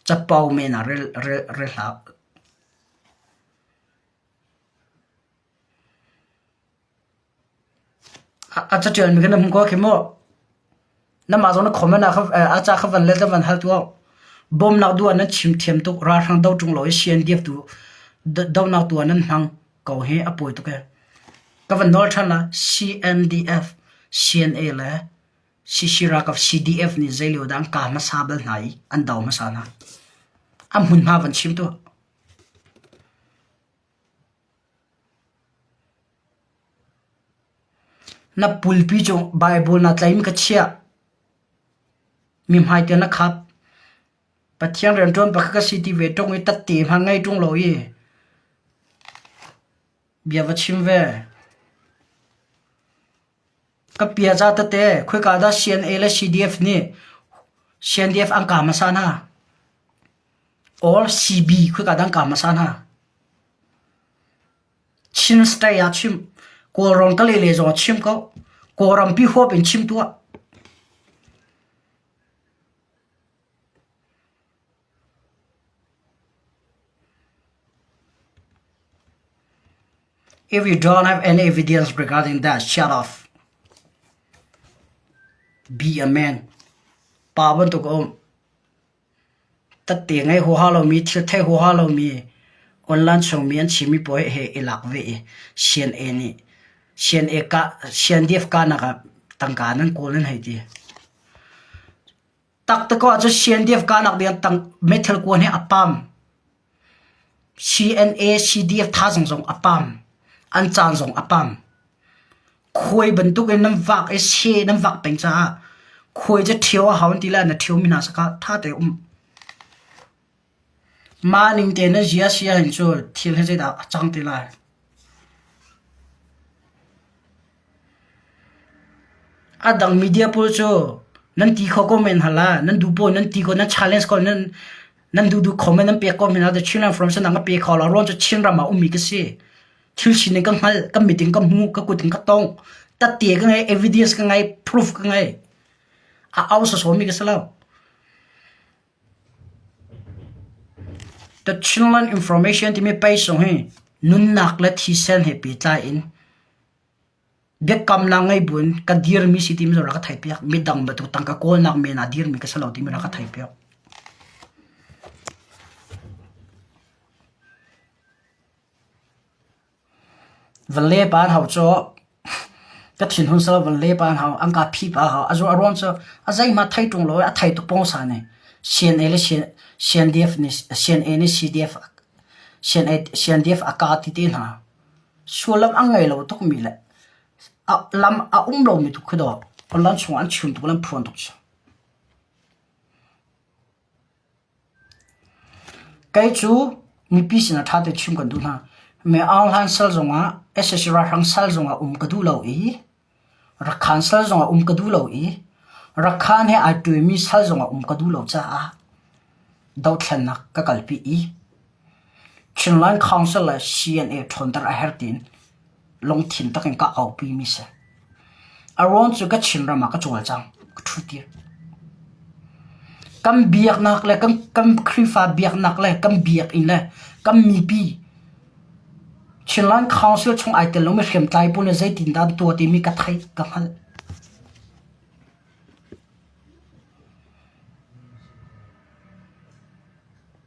Capau men a rel rel rel hlah. A caṭial mi kan um ko khi mu. Namah zong na khawm in a ca kha van let le van hal tuah. Bawmnak duh ah nan chim thiam tuk. Ralhrang do ṭung lo i si an diak tu dohnak tu ah nan hmang ko hi a pawi tuk ee. Ka van nawl ṭhan la CNDF, CNA le Shishirakaw CDF nih zei lio dah an ka hmasa bal hna i an do hmasa hna. An hmunhma van chim tuah. Na pulpi cu Baibal na tlaih mi ka chiah. Mihmai tiah na khap. Pathian rianṭuan pakhat ka si ti ve ṭung i tatte hmanh ngei ṭung lo i bia va chim ve. Ka piaza tete khoika dah CNA le CDF nih CNDF an kaam hmasa hna? Or CB khoika dah an kaam hmasa hna? Chin State ah chim, Kawlram ka lele zong ah chim ko. Kawlrampi huap in chim tuah. If you don't have any evidence regarding that, shut off. Be a man. Pa bantuk um. Tatte ngai ho ha lomi, thil thei ho ha lomi, online chungmi an chimi poe he i lak ve i, sien e nih, sien e ka, sien dif ka nak ah, tangka nan kawl nan hei ti. Taktak ahcun CNDF-ka nak ding ah meithal kua nih a pam. CNA CDF thazang zong a pam. An caan zong a pam. Khuai bantuk in nan vak i se nan vak peng caah khuai cu ṭhio a hau an ti le na ṭhio mi hna sakah ṭha te um. Mah ning tein na zia a si ahhin cu thil hi zeidah a cang te lai? A dang media pawl cu nan ti kho ko men hna la. Nan duh paoh in nan ti ko, nan challenge ko, nan duhduh comment nan pek ko hna la. The Chinland Forum sinah ka pek hau la. Ruang cu Chinram ah ummi ka si. Thil sining ka hngalh, ka meeting ka hmu, ka kut in ka tongh. Tate ka ngei, evidence ka ngei, proof ka ngei. A au sawsawmi ka si lo. The Chinland Information timi peisung hi nunnak le thisen he pehtlai in biakamnak ngei buin ka dirmi si timi cu rak ka theihpiak. Midang bantuk tang ka kawlnak men ah dirmi ka si lo timi rak ka theihpiak. Valle pa an hau cu ka thinhun sal valle pa an hau. An ka phi pa a hau. A zu a ruang cu a zeihmah thei ṭung lo i a thei tuk pawngsa nih. Sian A le sian- Siandef nih Sian A nih Sidef a- Sian A- Siandef a ka ti te hna. Sullam a ngei lo tukmi le a lam a um lomi tu khi dawh, an chungah an chim tuk le an phuan tuk cu. Kei cu mipi sin ah ṭha tein chim kan duh hna. Myaung hlan sal zongah sac ralhrang sal zongah um ka duh lo i Rakhan sal zongah um ka duh lo i Rakhan he ai ṭuanmi sal zongah um ka duh lo caah dohthlennak ka kalpi i Chinland Council le CNA ṭhawnter a herh tiin lungthin tak in kah ka uhpi mi si. A ruang cu ka Chinram ah ka cawl cang, ka ṭhutir. Kan biaknak le kan, kan Khrihfa biaknak le kan biakinn le kan mipi Chinland Council chung ai tel lomi hriamtlai pawl nih zeitindah an tuah timi ka theih, ka hngalh.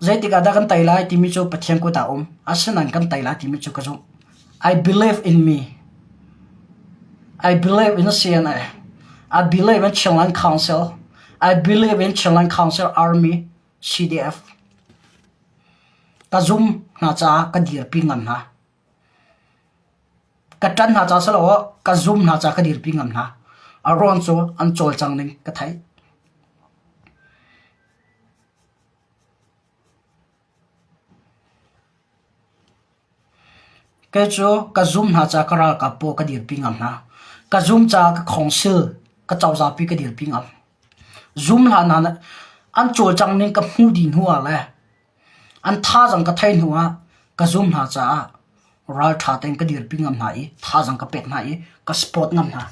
Zeitik ah dah kan tei lai timi cu Pathian kut ah um. Asinain kan tei lai timi cu ka zumh. I believe in me. I believe in CNA. I believe in Chinland Council. I believe in Chinland Council Army CDF. Ka zum hna caah ka dirpi ngam hna. Ka ṭan hna caah silo ka zum hna caah ka dirpi ngam hna. A ruang cu an cawlcang ning ka theih. Kei cu ka zum hna caah ka ralkap paw ka dirpi ngam hna. Ka zum caah ka khawngsil, ka cozapi ka dirpi ngam. Zum hlah hna nih an cawlcang ning ka hmuh dih hnuah le an thazaang ka theih hnuah ka zum hna caah ralṭha tein ka dirpi ngam hna i thazaang ka pek hna i ka support ngam hna.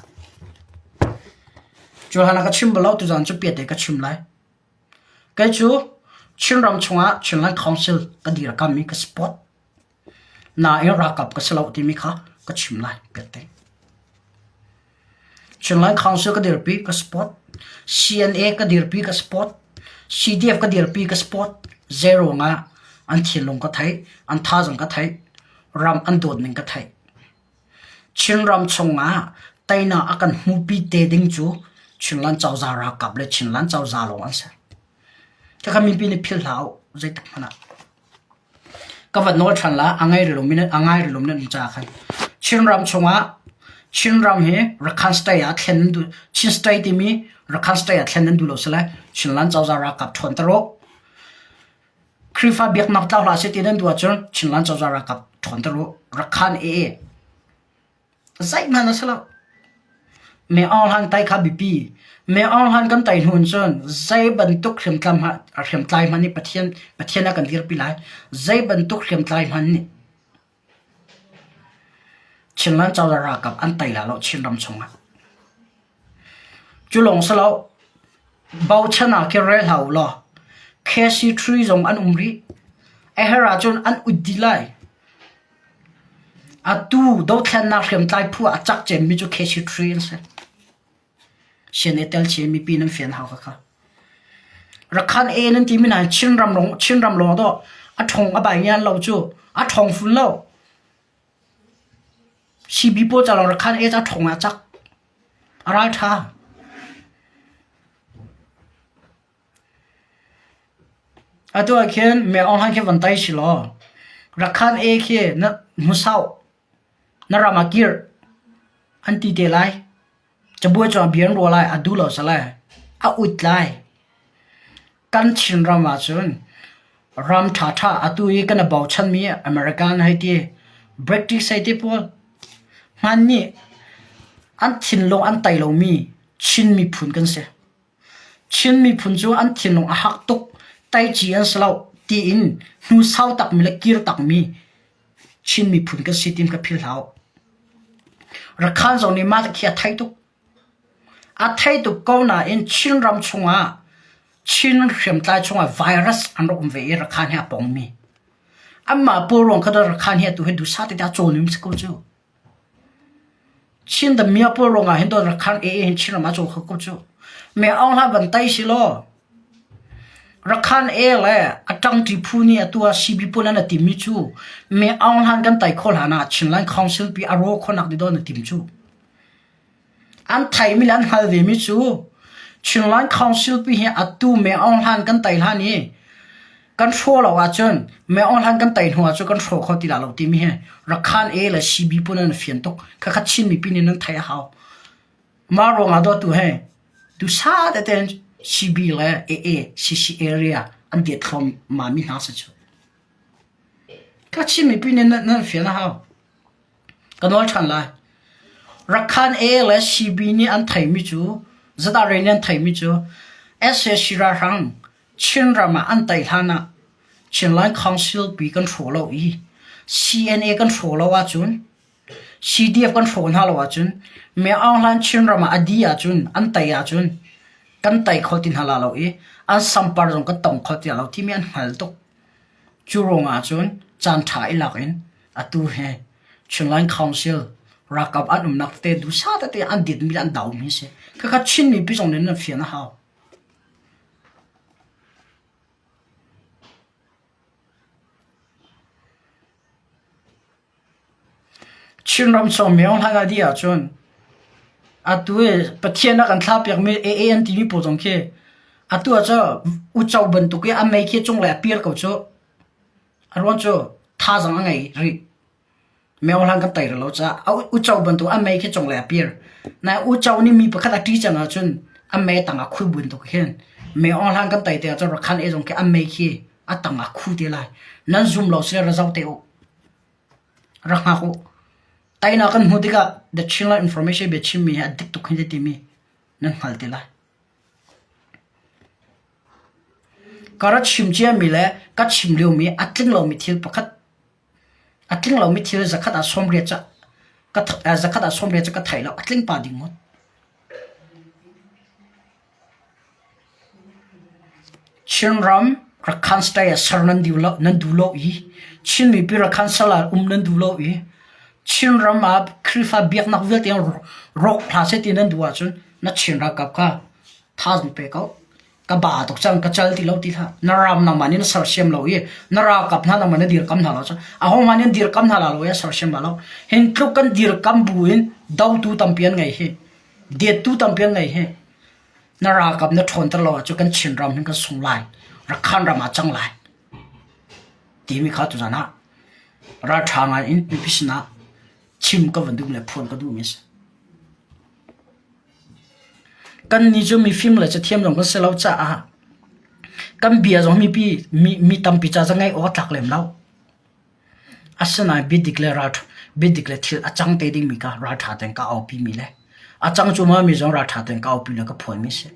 Cu hlan ah ka chim bal lo, tuzaan cu piate ka chim lai. Kei cu Chinram chungah Chinland Council ka dirkammi ka si pawt. Nain ralkap ka si lo timi kha ka chim lai biate. Chinland Council ka dirpi ka sport. CNA ka dirpi ka sport. CDF ka dirpi ka sport. Zeirong ah an thinlung ka thei, an tha zong ka thei, ram an dawt ning ka thei. Chinram chungah teinak a kan hmupi te ding cu Chinland cozah ralkap le Chinland cozah lawng an si. Khakha mipi nih philh hlah uh, zeitak hmanh ah. Ka va nawl than la, a ngai rilum in a ngai rilum nan ca khan. Chinram chungah Chinram hi Rakhine state ah thlen nan du Chin state timi Rakhine state ah thlen nan duh lo sile Chinland cozah ralkap thuan ta rawh. Khrihfa biaknak tlau hlah seh ti nan duh ahcun Chinland cozah ralkap ṭhawnter u. Rak khan ee. Zeihmanh a si lo. Me oorhlan tai kha biapi. Me oorhlan kan tai hnu in cun zei bantuk hriamtlai hmanh hriamtlai hmanh nih Pathian Pathian a kan dirpi lai. Zei bantuk hriamtlai hmanh nih Chinland cozah ralkap an tei lalo Chinram chungah. Culawng si lo, bochan ah kir rel hlah ulaw KC tree zong an um rih. A her ahcun an ut dih lai. Atu dothlennak hriamtlai phu ah a cak cemmi cu KC tree an si. Sian ai tel chih i mipi nan fian hau khakha. Rakhan e nan timi na Chinram lawng Chinram lawng to a thong a bai ngian lo cu a thong fun lo. Sibi paw ca lawng Rakhan e ca thong a cak. A ral tha. Atu ah khin meh online khi van tai si law Rakhan e khi na hmusau Na ram a kirh an ti te lai. Cabuai cu a bia an ruah lai, a duh lo a si lai, a ut lai. Kan Chin ram ahcun ram ṭhaṭha atu i kan i bochanmi American hei ti, British hei ti pawl, hman nih an thinlung an tei lomi Chin miphun kan si. Chin miphun cu an thinlung a hak tuk, taici an si loh tiin hnu sau takmi le kir takmi Chin miphun kan si tiin ka philh hau. Rakhaan zong nih mah khi a thei tuk. A thei tuk ko nain Chinram chungah, Chin hriamtlai chungah virus an rak um ve i Rakhaan hi a pongmi. Anmah pawl ruang kha cun Rakhaan hi atu hi duhsah tete a cawn um si ko cu. Chin damiah pawl ruangah hin Dawt Rakhan AA hin Chin ram a caw kho ko cuh. Meh Aung Hlah van tei silaw Rakhan A le a ṭangṭi phu nih atu ah CB pawl an a tim mi cu Meh Aung Hlan kan tei kho hlan ah Chinland Council pi a raw khawhnak dih dawh an i tim cuh. An theihmi le an hngal vemi cu Chinland Council pi hi atu Meng Aung Hlaing kan tei hlan i kan hrawh lo ahcun Meng Aung Hlaing kan tei hnu ah cu kan hrawh kho ti lai lo timi hi Rakhan A le CB pun an fian tuk. Khakhat Chin mipi nih nan theih a hau. Mah ruangah dawtu he dusa tete in CB le AA CC area an diat thluahmahmi hna si cu. Khakhat Chin mipi nih nan fian a hau. Ka nawl ṭhan lai. Rakhan A le CB nih an theimi cu Zadare nih an theimi cu sac ralhrang Chinram ah an tei hlan ah Chinland Council pi kan hraw lo i CNA kan hraw lo ahcun CDF kan hraw hna lo ahcun Myo Aung Hlaing Chinram ah a dih ahcun an tei ahcun kan tei kho ti hna la lo i an sampar zong kan tong kho ti hna lo timi an hngal tuk. Cu ruangah ahcun caan ṭha i lak in Atu he Chinland Council ralkap an umnak tete dusa tete an ditmi le an daumi a si. Khakha Chinmi pi zong nih nan fian a hau. Chinram chung meong hlan adi ahcun atu e Pathian a kan thla piakmi AA an timi pawl zong khi atu ah cu ucau bantuk i a mei khi cung le a pir ko cu. A ruang cu thazang a ngei rih. Miohlang kan tei rih lo caah a uco bantuk a mei khi cunglei a pir. Nain uco nih mi pakhat a ṭih cang ahcun a mei tang ah a khui buin tuk hin miohlang kan tei tikah cun rakhan ei zong khi a mei khi a tang ah a khu te lai. Nan zum lo sile ra zoh te u. Rak hngak u. Teinak kan hmuh tikah The Chinland Information biachimmi hi a dik tuk hin ti timi nan hngal te lai. Ka rak chim ciami le ka chim liomi a tling lomi thil pakhat, a tling lomi thil zakhat ah sawmriat cu zakhat ah sawmriat cu ka thei lo. A tling pah ding maw? Chinram Rakhine State ah ser nan duh lo, nan duh lo i Chin mipi Rakhine sal ah um nan duh lo i Chinram ah Khrihfa biaknak vialte in rawk hlah seh ti nan duh ahcun na Chin ralkap kha thau nu pe ko ka ba tuk chang ka chal ti lo ti tha na ram nang man in sersiam lo i na ra kap na nang man dir kam na lo cha a hong man in dir kam na la lo ya sersiam la lo hin tluk kan dir kam bu in do tu tampian ngai hi diet tu tampian ngai hi na ra kap na thon tar lo chu kan chin ram hin kan sung lai ra khan rama chang lai ti mi kha tu zana ra tha ngai in pi pisna chim ka vandum le phon ka du mis Kannih cu mifim le cathiam zong kan si lo caah kan bia zong mipi mi tampi ca cu ngaih awk a tlak lem lo. Asinain biadik le ralṭha biadik le thil a cang te dingmi kha ralṭha tein ka aupimi le a cang cuahmahmi zong ralṭha tein ka aupi le ka phuanmi a si.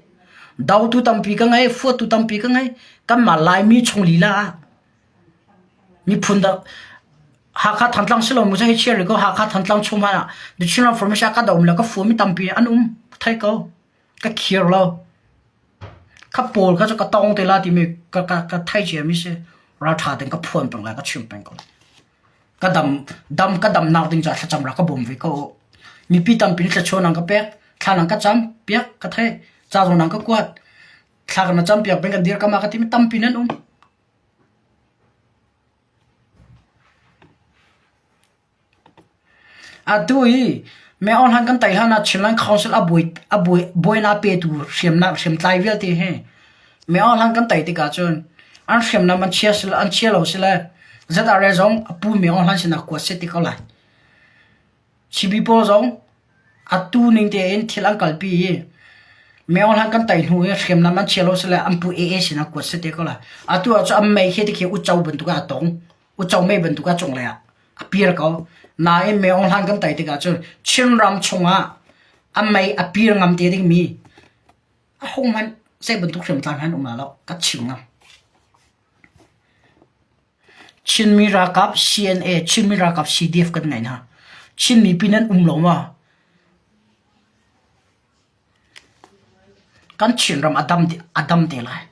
Dotu tampi ka ngei, fuahtu tampi ka ngei. Kanmah Laimi chung lila ah Hakha Thantlang si lo mu seh hi chia rih ko. Hakha Thantlang chung hmanh ah The Chinland Formation ah kahdoh a um lo. Ka fua mi tampi an um thai ko. Ka khir lo. Ka pawl ka cu ka tong te la timi ka ka ka thai cia mi si. Raltha ten ka phuan peng lai, ka chim peng ko. Ka dam dam ka dam nak ding ca thlacam ra ka bawm ve ko. Mipi tampi ni thlachuan nang ka pek. Thla nang ka cam piak ka thai. Ca zong nang ka kuat. Thla ka na cam piak beng ka dir ka ma ka timi tampi nan um. Atu i meohlan kan tei hlanah Chinland Council a buainak petu hriamtlai vialte he meohlan kan tei tikah cun an hriamnam an chia lo sile ZRA zong a pu meohlan sinah kuat set ti ko lai. Chibi pawl zong atu ning tein thil an kalpi i miohlang kan tei hnu i hriamnam an chia lo sile an pu ee sinah kuat si te ko lai. Atu ah cu a mei hi tikhi uco bantuk ah a tong. Uco mei bantuk ah cunglei ah a pir ko. Nain miohlang kan tei tikah cun Chinram chungah a mei a pir ngam te dingmi ahohmanh zei bantuk hriamtlang han um la lo ka chim ngam. Chinmi ralkap CNA, Chinmi ralkap CDF kan ngaih hna. Chin mipi nan um lo maw? Kan Chinram a dam te, a dam te lai.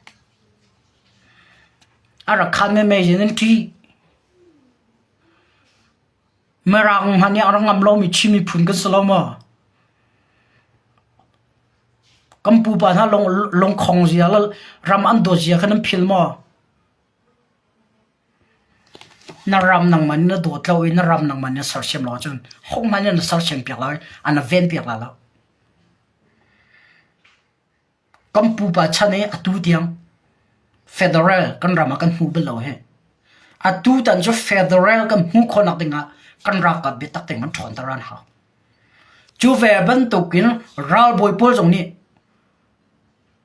A rak khan me me yin an ṭi. Mirang hman nih a rak ngam lo mi Chin miphun kan si lo maw? Kan pupa hna lung, lungkhong zia le ram an dawt zia khan an phil maw? Na ram nangman na dawt lo i na ram nangman na sersiam lo ahcun hohmanh nih na sersiam piak lai, an na ven piak lai lo. Kan pupa chan i atu tiang federal kan ram ah kan hmuh bal lo hi. Atu tan cu federal kan hmuh khawhnak dingah kan ralkap biatak tein kan ṭhawnter an hau. Cu ve bantukin ralbawi pawl zong nih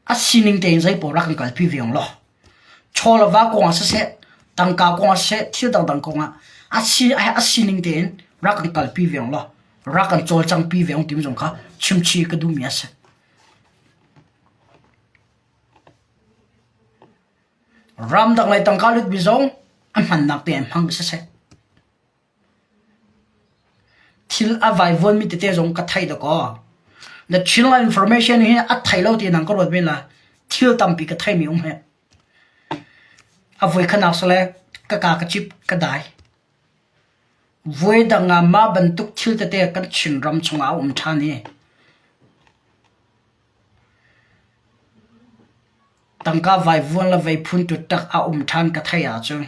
a sining tein zei pawl rak i kalpi ve ong law chaw le va kong ah siseh tangka kong ah siseh thil dangdang kong ah a si a sining tein rak i kalpi ve ong law rak kan cawlcangpi ve ong timi zong kha chimchi ka duhmi a si ram dang lei tangka lutmi zong an hmannak te an hmang siseh Thil a vaivuanmi tete zong ka theih dawh kaw na thil information hi a thei lo ti nang ka ruat men la thil tampi ka theimi um hi. A voi khanak sale ka ka ka cip ka dai. Voi dang ah mah bantuk thil tete kan Chin ram chungah a um ṭhan i tangka vaivuan le veiphun ṭuṭak a um ṭhan ka theih ahcun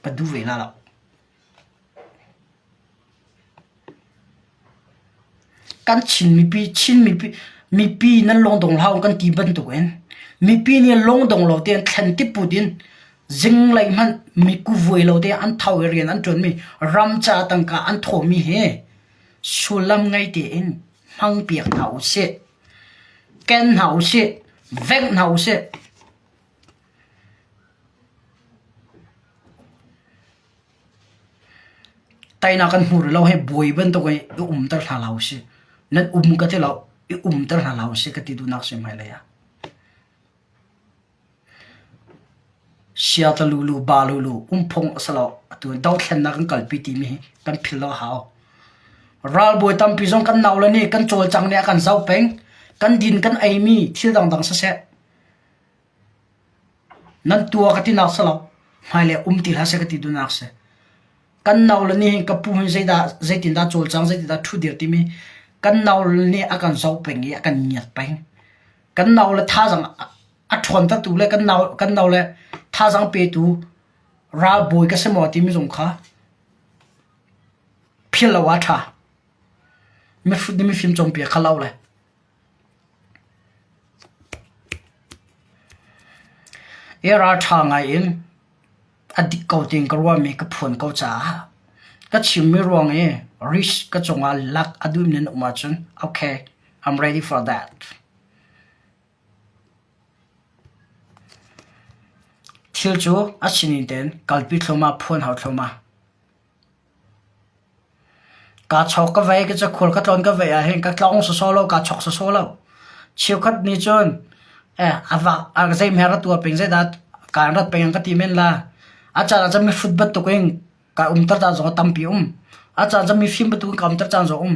A du ve hna lo. Kan Chin mipi, Chin mipi, mipi nan lawng dong hlah u kan ti bantuk in mipi nih lawng dong lo te an thlen tik put in zinglei hmanh mikuvuai lo te an thau i rian an ṭuanmi ram ca tangka an thawhmi hi sullam ngei tein hmang piak hna u sih. Ken hna usih, vengh hna usih. Tainak kan hmu rih lo hei buai bantuk i i umter hna hlah usih. Nan um ka ti lo, i umter hna hlah usih ka ti duhnak si hmailei ah. Siatlalulu balulu umphung a si lo. Atu in dothlennak in kalpi timi hi kan philh lo a hau. Ralbawi tampi zong kan nau le nih kan cawlcang nih a kan zoh peng. Kan din kan eimi thil dangdang siseh, nan tua ka tinak si lo, hmailei um ti hlah seh ka ti duhnak si. Kan nau le nih hin ka pu hin zeidah, zeitindah cawlcang, zeitindah ṭhu dir timi kan nau le nih a kan zoh peng i a kan ngiat peng. kan nau le thazang a ṭhawntertu le kan nau kan nau le thazang petu ralbawi ka si maw timi zong kha phil lo a ṭha mihrut ni mifim cawmpi a khalau le i ralṭha ngai in A dik ko tiin ka ruahmi ka phuan ko caah ka chimmi ruang i risk ka cungah lak a duhmi an um ahcun okay I'm ready for that. Thil cu a sinin tein kalpi thluamah, phuan hau thluamah. Kaa chawk ka vei ka cakhur ka tlawn ka vei ahhin ka tlong sawsaw lo, kaa chawk sawsaw lo. Cheukhat nih cun zeihmer a tuar peng, zeidah kaan rat peng an ka ti men la. A caan ah cun mihrut bantuk in kai umter caan zong a tampi a um. A caan ah cun mifim bantuk in kai umter caan zong a um.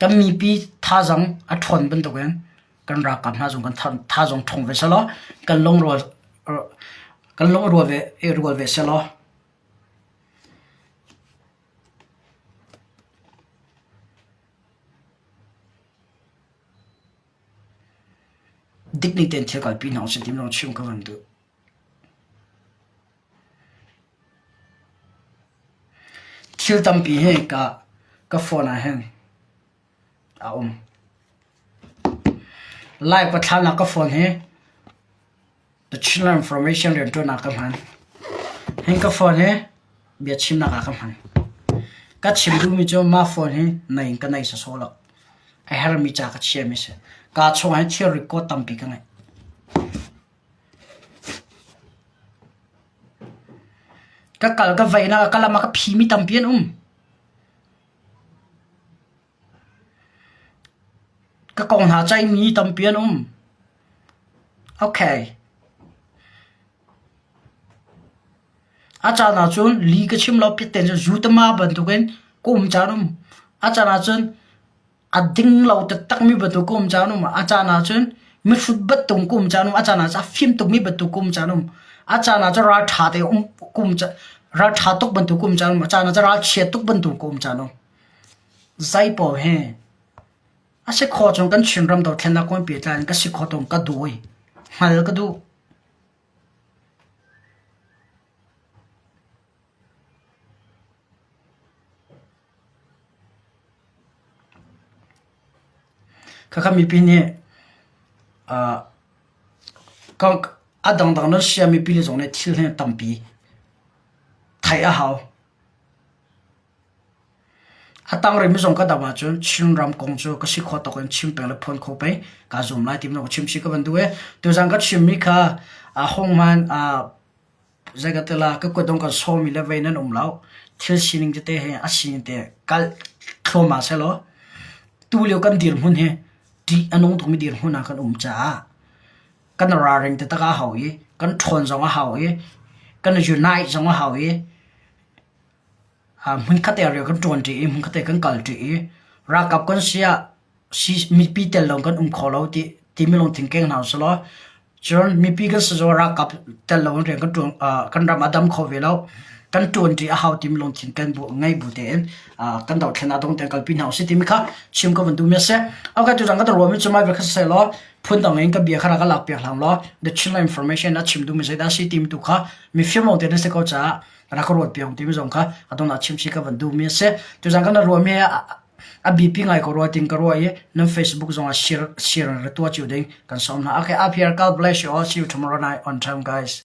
Kan mipi thazang a ṭhawn bantukin kan ralkap hna zong kan thazang ṭhawng ve selaw kan lungrual kan lungrual ve rual ve selaw dik ning tein thil kalpi hna usih ti zong chim kan duh. Thil tampi hi ka phone ah hin a um. Lai pathlanak ka phone hi The Chinland Information rianṭuannak ka hman. Hin ka phone hi biachimnak ah ka hman. Ka chim duhmi cu mah phone hi naih in ka naih sawsawh lo. A hermi ca ka chiami a si. Kaa chungah hin thil record tampi ka ngeih. Ka kal ka vaihnak ah ka lam ah ka phi mi tampi an um. Ka kong hna caih mi tampi an um. Okay. A caan ah cun li ka chim lo piatten cu zu tama bantuk in ka um caan um. A caan ah cun a ding lo taktak mi bantuk kum cha num a caan ah cun mihrut bat tung kum cha num a caan ah cu a fim tuk mi bantuk kum cha num a caan ah cu ral ṭha te um kum cha ral ṭha tuk bantuk kum cha num a caan ah cu ral chiat tuk bantuk kum cha num zai pawl he a si kho chung kan chin ram do thlen na kun pi tlan ka si kho tung ka du oi ngal ka du Khakha mipi nih a dangdang na sia mipi le zong nih thil hi tampi theih a hau. A tangrem i zong ka doh ahcun Chinram kong cu ka si khawh tawk in chim peng le phuan kho pei kaa zuam lai ti bantuk a chim chih ka van duh i tuzang ka chimmi kha honghman Zeicahtila ka kuat dong kan sawmi le vei nan um lo. Thil sining tete hi a sining te kalh thluamah sehlaw tulio kan dirhmun hi ṭih a nung tukmi dirhmun ah kan um caah kan ralring taktak a hau i kan ṭhawn zong a hau i kan unite zong a hau i hmunkhat te rian kan ṭuanṭi i hmunkhat te kan kalṭi i ralkap kan si ah Mipi tel lo kan um kho lo timi lungthin keng hna usihlaw cun mipi kan si zawn ralkap tel lo in rian kan ram a dam kho ve lo. Kan ṭuanṭi a hau timi lungthin kan ngei bu tein kan dohthlen ah dong tein kalpi hna usih timi kha chim ka vun duhmi a si. Okay, tuzang kan ruahmi cu mai via kha sisehlaw phundang in ka bia kha rak ka lakpiak hlang law The Chinland Information a chim duhmi zeidah a si timi tu kha mifim lawngte na si ko caah rak ka ruat piak timi zong kha a dongah chim si ka vun duhmi a si. Tuzang kan ruahmi A biapi ngai ko rua ting ka ruah i nan Facebook zong ah share na tuah cio ding kan sawm hna. Okay, up here. God bless you all. See you tomorrow night on time, guys.